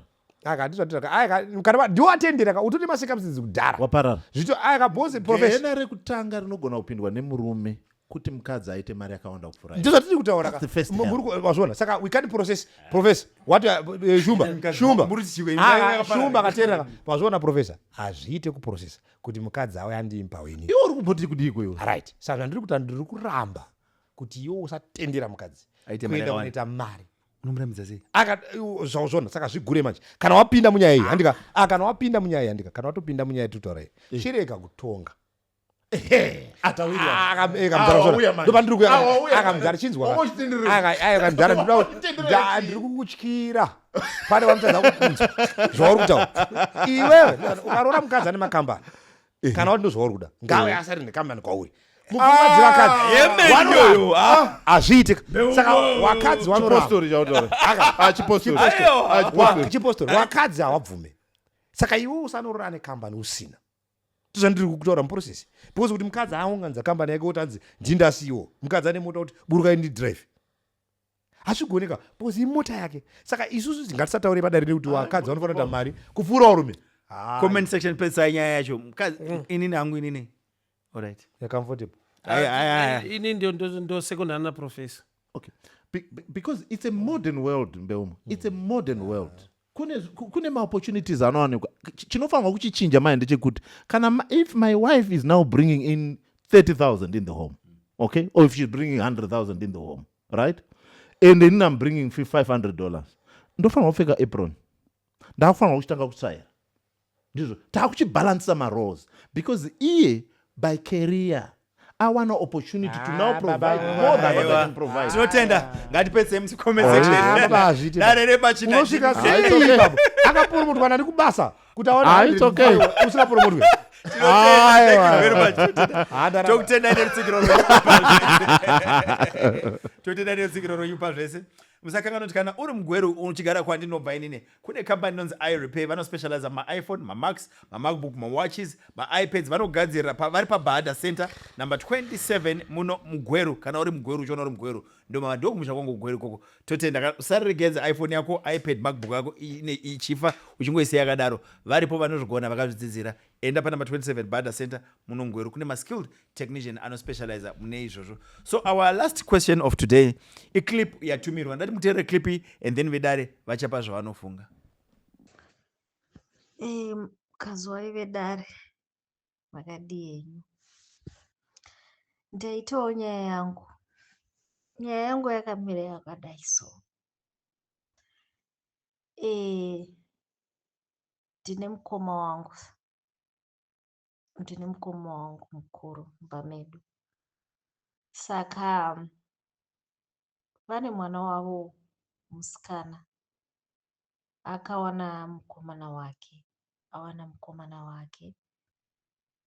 ndiwo atendera ka utone masekamusidzi kudhara waparara zvito ayakabhonze profession rekutanga rinogona kupindwa nemurume kuti mukadzi aite mari yakawanda kupfuura ndizvo zvatiri kutaura mazviona saka we can't process professor what uh, uh, shumba shumba ah, shumba akateerera mazviona professor hazviite kuprocessa kuti mukadzi auya andii mpaweni iwe uri kumboti kudii kwewe right saka zvandiri kuti ndiri kuramba kuti iwe usatendera mukadzi kuenda kunoita mari unomuramidza sei uh, zvauzvona saka zvigure manje kana wapinda munyaya iyi handika ah, kana wapinda munyaya iyi handika kana watopinda munyaya iyi totaurai eh. chirega kutonga ndiri kukutyira pane wamutadza kukunzwa zvauri kutaura iwewe ukaroora mukadzi ane makambani eh. kana wati ndozvauri kuda ngawe eh. asari nekambani kwauri mukuvadzivakadzi hazviitike saka wakadzi wanorachipostori wakadzi hawabvume saka iwe usanorora nekambani usina tozvandiri kutaura muprocess because kuti mukadzi aunganidza kambani yake kuti anzi ndinda ceo mukadzi ane mota kuti burukai ndi drive hazvigoneka because imota yake saka isusu tingatisataure padare rekuti vakadzi vanofanira kuita mari kupfuura varume comment section pedzisai nyaya yacho mukadzi mm. inini hangu inini alright you're comfortable ah, ini ndio ndo second ana professor okay Be, because it's a modern world mbeumo it's a modern world kune, kune maopportunities anowanikwa chinofanirwa kuchichinja manje ndechekuti kana if my wife is now bringing in 30000 in the home okay or if she's bringing 100000 in the home right and then i'm bringing 500 dollars ndofanirwa kupfeka apron ndakufanirwa kuchitanga kutsvaira ndizvo takuchibalancer maroles because iye by career awana opportunity to now ah, provide more than what can provide tinotenda ah. ngatipedzei mucomment section ah, baba azviti dare repachina unosvika sei baba akapurumutwa nani kubasa kuti aona it's okay usingapurumutwe tokutendai nerutsigiro tokutendai nerutsigiro rwenyu pazvese musakanganoti kana uri mugweru uchigara kwandinobva inini kune kambani inonzi irepair vanospecializa maiphone mamax mamacbook mawatches maipads vanogadzirira pa, vari pabahada center number 27 muno mugweru kana uri mugweru uchiona uri mugweru ndoma ndokumusha kwangu kugweru ikoko totenda usareregenza iphone yako ipad macbook yako ichifa uchingoisiya yakadaro varipo vanozvigona vakazvidzidzira Enda panumber 27 Bada Center muNongweru kune maskilled technician anospecializer mune izvozvo. So our last question of today iclip yatumirwa ndati muteerere clip iyi and then vedare vachapa zvavanofunga. Hey, kazuwai vedare makadii henyu? Ndaitawo nyaya yangu. Nyaya yangu yakamira yakadai so. Eh, ndine mukoma wangu ndine mukoma wangu mukuru mumba medu saka vane mwana wavo musikana akawana mukomana wake awana mukomana wake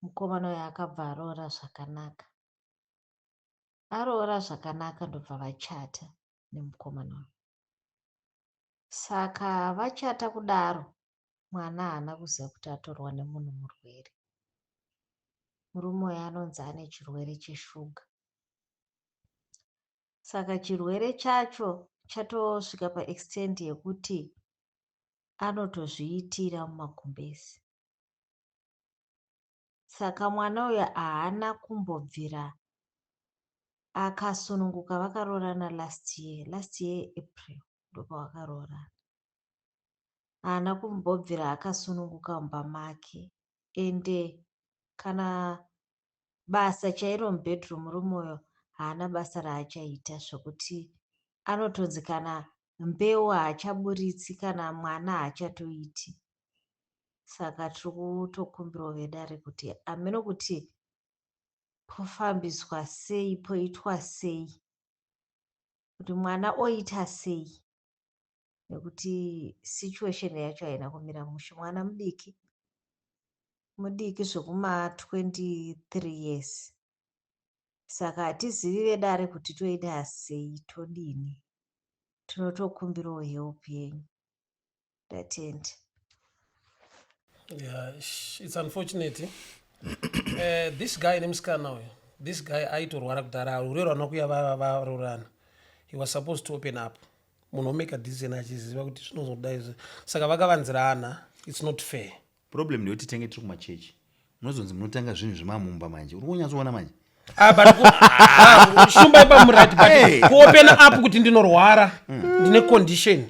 mukomana uyo akabva aroora zvakanaka aroora zvakanaka ndobva vachata nemukomana uyu saka vachata kudaro mwana haana kuziva kuti atorwa nemunhu murwere murume uyo anonzi ane chirwere cheshuga saka chirwere chacho chatosvika paextend yekuti anotozviitira mumagumbezi Saka mwana uyu haana kumbobvira akasununguka vakaroorana last year last year april ndopavakaroorana haana kumbobvira akasununguka mumba make ende kana basa chairo mubedroom rumoyo haana basa raachaita zvekuti anotonzi kana mbeu haachaburitsi kana mwana haachatoiti saka tiri kutokumbirawo vedare kuti hameno kuti pofambiswa sei poitwa sei kuti mwana oita sei nekuti situation yacho haina kumira mushe mwana mudiki mudiki zvekuma 23 years saka hatizivi vedare kuti toita sei todini tinotokumbirawo help yenyu ndatenda yeah, it's unfortunate uh, this guy nemusikana uyu this guy aitorwara kudhara rurero anokuya varoorana he was supposed to open up munhu omeka decision achiziva kuti zvinozoda izvi saka vakavanzirana it's not fair problem ndeyoti tenge tiri kumachechi munozonzi munotanga zvinhu zvemamumba manje uri kunyatsoona manje Ah, but ku- ah, shumba ipa murati Hey. but kuopena up kuti ndinorwara ndine condition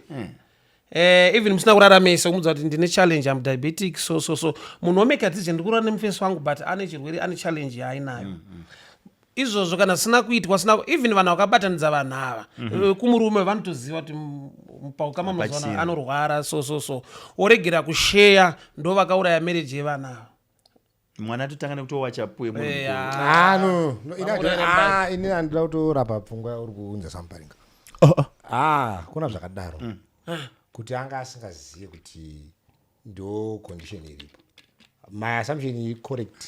Eh, even musina kuraramisa kumudza kuti ndine challenge am diabetic so so so munhu womeka dzize ndikurara nemufesi wangu but ane chirwere ane challenge yaainayo izvozvo kana sina kuitwa sina even vanhu vakabatanidza vanhu ava mm -hmm. kumurume vanotoziva kuti mupaukama mazuva anorwara so so so woregera kusheya ndo vakauraya mereji yevana ava mwana atotanga nekutowacha puwe eh, ah. ah, no ah, ini andida kutorapa pfungwa yauri kuunza samuparinga oh, oh. kuna zvakadaro mm. kuti anga asingazivi kuti ndo condition iripo my assumption correct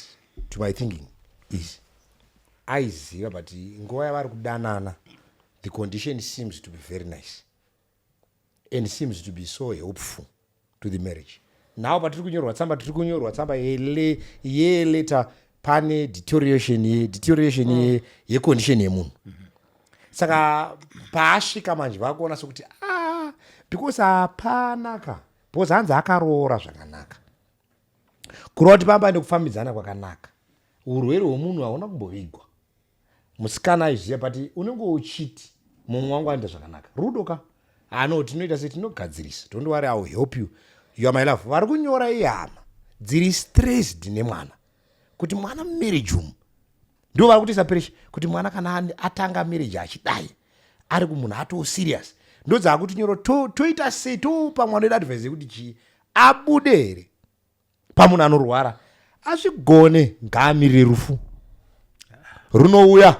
to my thinking is aiziva but nguva yavari kudanana the condition seems to be very nice and seems to be so helpful to the marriage now patiri kunyorwa tsamba tiri kunyorwa tsamba yele yeleta pane deterioration ye deterioration ye mm. yecondition yemunhu mm -hmm. saka paasvika manje vakuona sokuti ah because hapana ka because hanzi akaroora zvakanaka kureva kuti pamba nekufambidzana kwakanaka urwere hwemunhu hauna kumbovigwa musikana aizviziva but unenge uchiti mumwe wangu anoita zvakanaka rudo ka ano ah, tinoita se tinogadzirisa don't worry iwill help you you are my love vari kunyora ihama dziri stressed nemwana kuti mwana mumarriage umu ndivo vari kutiisa presha kuti mwana kana atanga marriage achidai ari kumunhu atoo serious ndodzaakuti nyoro toita sei topa mwana wedu advise yekuti chii abude here pamunhu anorwara azvigone ngaamirire rufu runouya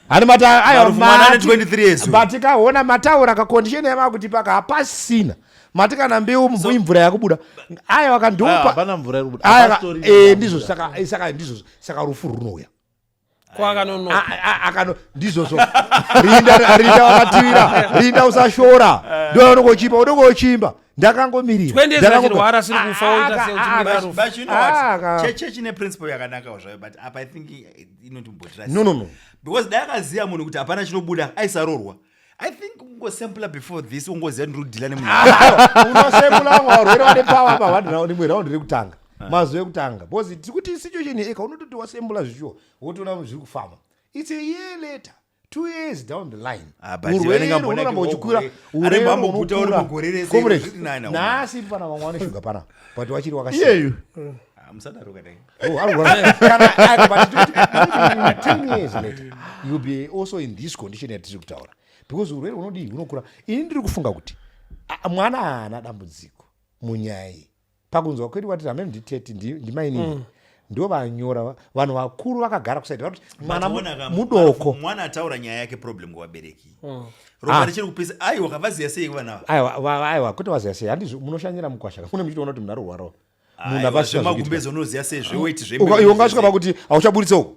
hani mata ayo Marufu mwana ane mati- 23 years uyu. mati kaona mataura kakondisheni yamakutipaka hapasina mati kana mbeu mvu- imvura yakubuda ayo Ah, akandiupa hapana mvura iri kubuda. Aya, Hapastori eh, mvura. ndizvo saka eh, saka ndizvo saka rufu runouya kwakanonoka A- a- akano ndizvozvo rinda rinda wakatiwira rinda usashora ndo unongochimba unongochimba ndakangomirira Twende Ndakango- zachirwara asiri kufa Ah, oita ah, sei ah, uchimira But- rufu. but you know what? Ah, ka- Che- church ine principle yakanakawo zvayo but apa i think i- inotimbotira No, no, no. because dai akaziva munhu kuti hapana chinobuda aisarorwa i think ungosampler before this ungoziva kuti ndikudhila nemunhu unosembula vamwe varwere vane pawa apa vati raundi imwe raundi rekutanga mazuva ekutanga because tiri kuti situation eka unototi wasembula zvishuwa wotoona zviri kufamba its a year later two years down the line ah, urweinoramba uchikura urweiukuranhasi pana vamwe vane shuga pana but wachiri wakasiyeyu ah, oh, be also in this condition yatiri kutaura because urwere hunodii hunokura ini ndiri kufunga kuti mwana haana dambudziko munyaya iyi pakunzwa kwedu wati hameno ndi 30 ndimainini mm. ndivo vanyora vanhu vakuru vakagara kusaidi vakuti mwana mudoko mwana ataura nyaya yake problem kuvabereki mm. ropa ah. richiri kupisa aiwa kavaziya sei vana ava aiwa kuti vaziya sei handi munoshanyira mukwasha mune muchitoona kuti munhu arwarawo ah, munhu avazvemagumbezi unoziya sei zveweti zveiwe ungasvika pakuti hauchaburitsa uku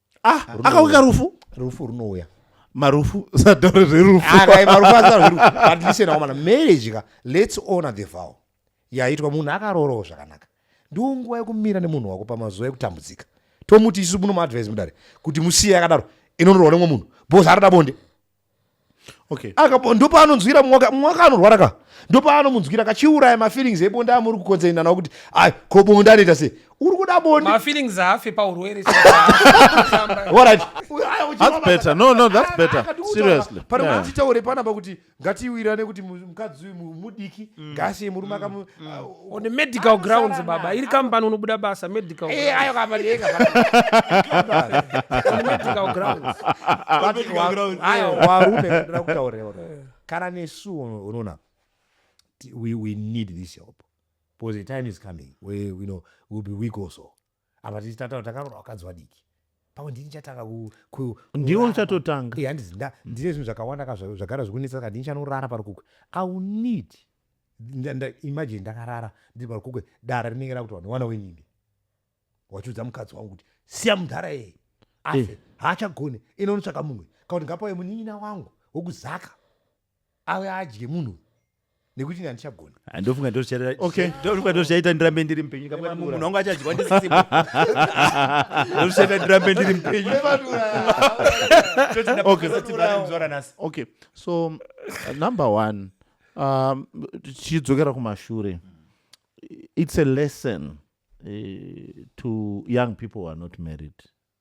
ah akauya rufu rufu runouya marufu sadoro zverufu ah, marufu azarwerufu but listen akomana marriage ka let's honor the vow yaitwa munhu akaroorowo zvakanaka ndiwo nguva yekumira nemunhu wako pamazuva ekutambudzika tomuti isu munomaadvise mudare kuti musiye akadaro inonorowa nemwe munhu bhozi arada bonde okay. akapo ndo paanonzwira mwaka mwaka anorwara ka ndo paanomunzwira kachiuraya mafeelings ebonda amuri kukonzerina nawo kuti ai ko bonda anoita sei uri kuda bonda mafeelings afe paurwere panoatitaure panapa kuti ngatiwirane kuti mukadzi uyu mudiki mm. ngaasiye murume mm. on the medical grounds baba iri kambani unobuda basa medical eh, ayo kambani yega on the medical grounds ayo warume ndira kutaurira kana nesu unoona we, we need this help because the time is coming where you know we'll be weak also apa tichitataura takaroora vakadzi vadiki pamwe ndini chatanga ndiwo uchatotanga ndine zvinhu zvakawanda ka zvagara zvikunetsa saka ndini chanorara parukukwe iwill need imagine ndakarara ndiri parukukwe dara rinenge rakuti vanhu wana wenyinge wachiudza mukadzi wangu kuti siya mudhara yeye afe eh. haachagone inonotsvaka mumwe kakuti ngapauye munin'ina wangu wokuzaka auya adye munhu uyu nekuti ini handichagona Ah, ndofunga ndo zvichata- Okay. ndofunga ndo zvichaita ndirambe ndiri mupenyu Kama munhu Madura. wangu achadyiwa ndisipo Ndo zvichaita ndirambe ndiri mupenyu Toti ndapedza Okay. kuti vana muzora nhasi. okay so uh, number one um, tichidzokera kumashure it's a lesson uh, to young people who are not married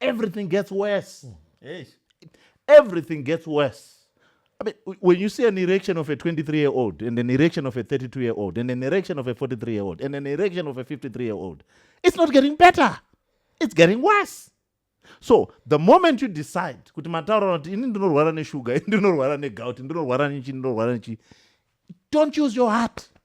everything gets worse mm. everything gets worse I mean, when you see an erection of a 23 year old and an erection of a 32 year old and an erection of a 43 year old and an erection of a 53 year old, it's not getting better. It's getting worse. so the moment you decide kuti mataura kuti ini ndinorwara neshuga ini ndinorwara negout ndinorwara nechi ndinorwara nechi don't use your heart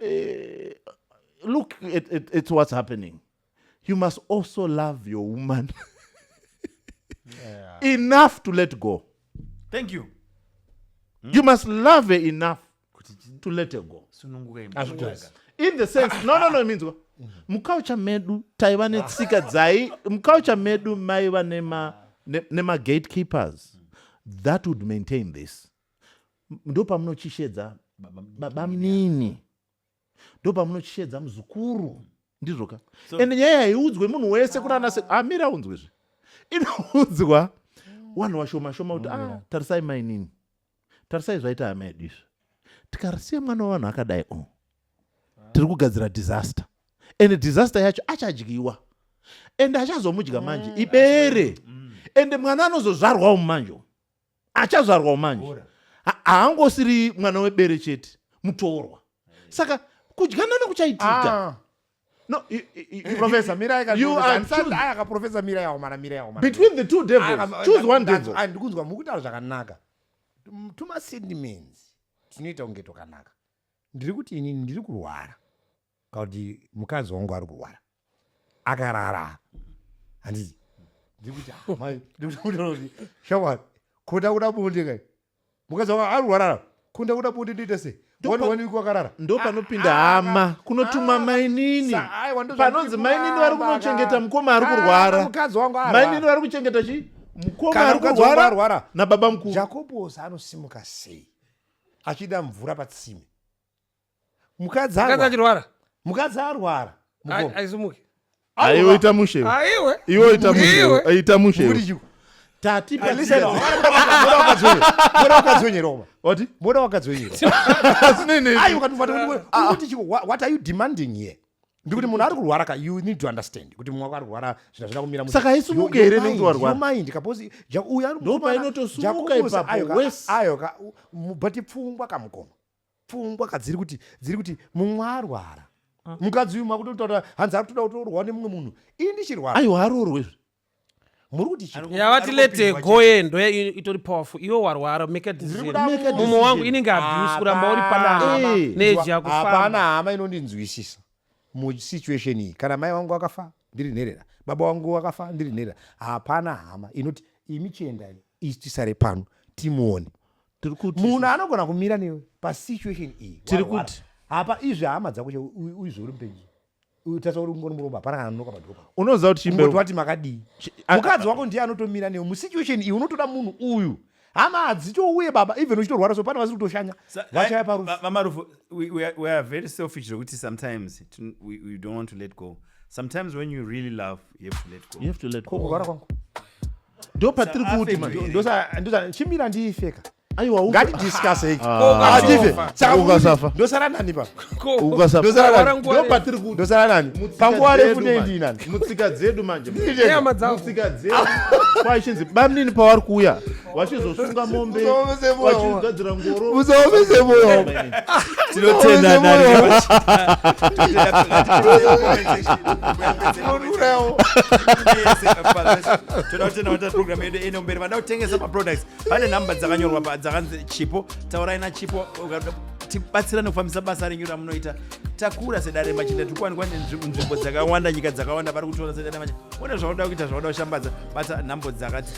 eh, look at, at, at what's happening you must also love your woman yeah. enough to let go thank you hmm? you must love her enough to let her go in the sense no no no means mukaucha medu taiva netsika dzai mukaucha medu maiva nema nema gatekeepers that would maintain this ndopamunochishedza babamnini ndopamunochishedza muzukuru ndizvo ka so, and nyaya haiudzwe munhu wese kuti anase amira ah, aunzwe zve inoudzwa wanhu washoma shoma kuti ah, tarisai mainini tarisai zvaita hama yedu izvi tikarisiya mwana wavanhu akadai o oh, tiri kugadzira disaster and disaster yacho achadyiwa and achazomudya manje mm, ibere mm. and mwana anozozvarwawo mumanje achazvarwawo manje haangosiri mwana webere chete mutorwa saka kudyana nekuchaitika ah. No, you, you, you, professor Mira can you are choose. I can professor Mira ya Omara Mira ya Omara. Between the two devils, I, choose one devil. And ndikunzwa mukutaura zvakanaka. Tuma sentiments tinoita kunge tokanaka. Ndiri kuti ini ndiri kurwara. kana kuti mukadzi wangu ari kurwara akarara handiti ndikuti ah, mai ndikuti shamwari kuda kuda bonde kai mukadzi wangu ari kurwara kunda kuda bonde ndoita sei wakarara ndo ah, panopinda ah, hama ah, kunotuma mainini panonzi mainini vari kunochengeta mukoma ari kurwara mainini vari kuchengeta chii mukoma ari kurwara nababa mukuru jakobos anosimuka sei achida mvura patsime mukadzi achirwara mukadzi arwara aisimuke aiwoita mushe aiwe iwe ita mushe aita mushe tati moda wakadzonyeroma wati moda wakadzonyeroma ayi ukatuvati kuti chiko what are you demanding here ndikuti munhu ari kurwara ka you need to understand kuti mumwe wako ari kurwara zvina zvina kumira saka haisumuke here nekuti warwara mind kaposi uyu anondopainotosumuka ipapo ayo ka mubati pfungwa kamukoma pfungwa ka dziri kuti dziri kuti mumwe arwara ah. mukadzi uyu makutotaura hanzi ari kutoda kutorwa nemumwe munhu ii ndichirwara aiwa aroorwe izvi muri kuti yavati lete goye ndo itori powerful iwe warwara make mumwe wangu inenge abuse kuramba uri panaa neji yakufapana hama inondinzwisisa musituation iyi kana mai wangu akafa ndiri nherera baba wangu akafa ndiri nherera hapana hama inoti imi chiendai isi tisare pano timuone munhu anogona kumira newe pasituation iyi tiri kuti hapa izvi hama dzako che uizvi uri mupenyu utatsa uri kungoni muromba hapana kana anonoka padhopa unoziva kuti chimboti wati makadii mukadzi wako ndiye anotomira newe musituation iyi unotoda munhu uyu hama hadzitouye baba even uchitorwara so pane vasiri kutoshanya vachaya parufu we are very selfish zvekuti sometimes we, we don't want to let go sometimes when you really love you have to let go you have to let go kurwara kwangu ndo patiri kuti chimira ndiifeka aiwangatidiskaseiasafa nani paukasafandopatiri kutindosara nani panguva refu neindiinani mutsika dzedu manjemutsika dzedu kwaichinzi bamnini pavari kuuya vachizosunga mombe vachigadzira musaomese moyo tinotenda program yedu ino mberi vada kutengesa maproducts pane nhamba dzakanyorwa pa dzakanzi chipo taurai nachipo tibatsirane kufambisa basa renyu ramunoita takura sedare machinda tiri kuwanikwa nzvimbo dzakawanda nyika dzakawanda vari kutora sedare machinda one zvaunoda kuita zvaunoda kushambadza bata nhambo dzakati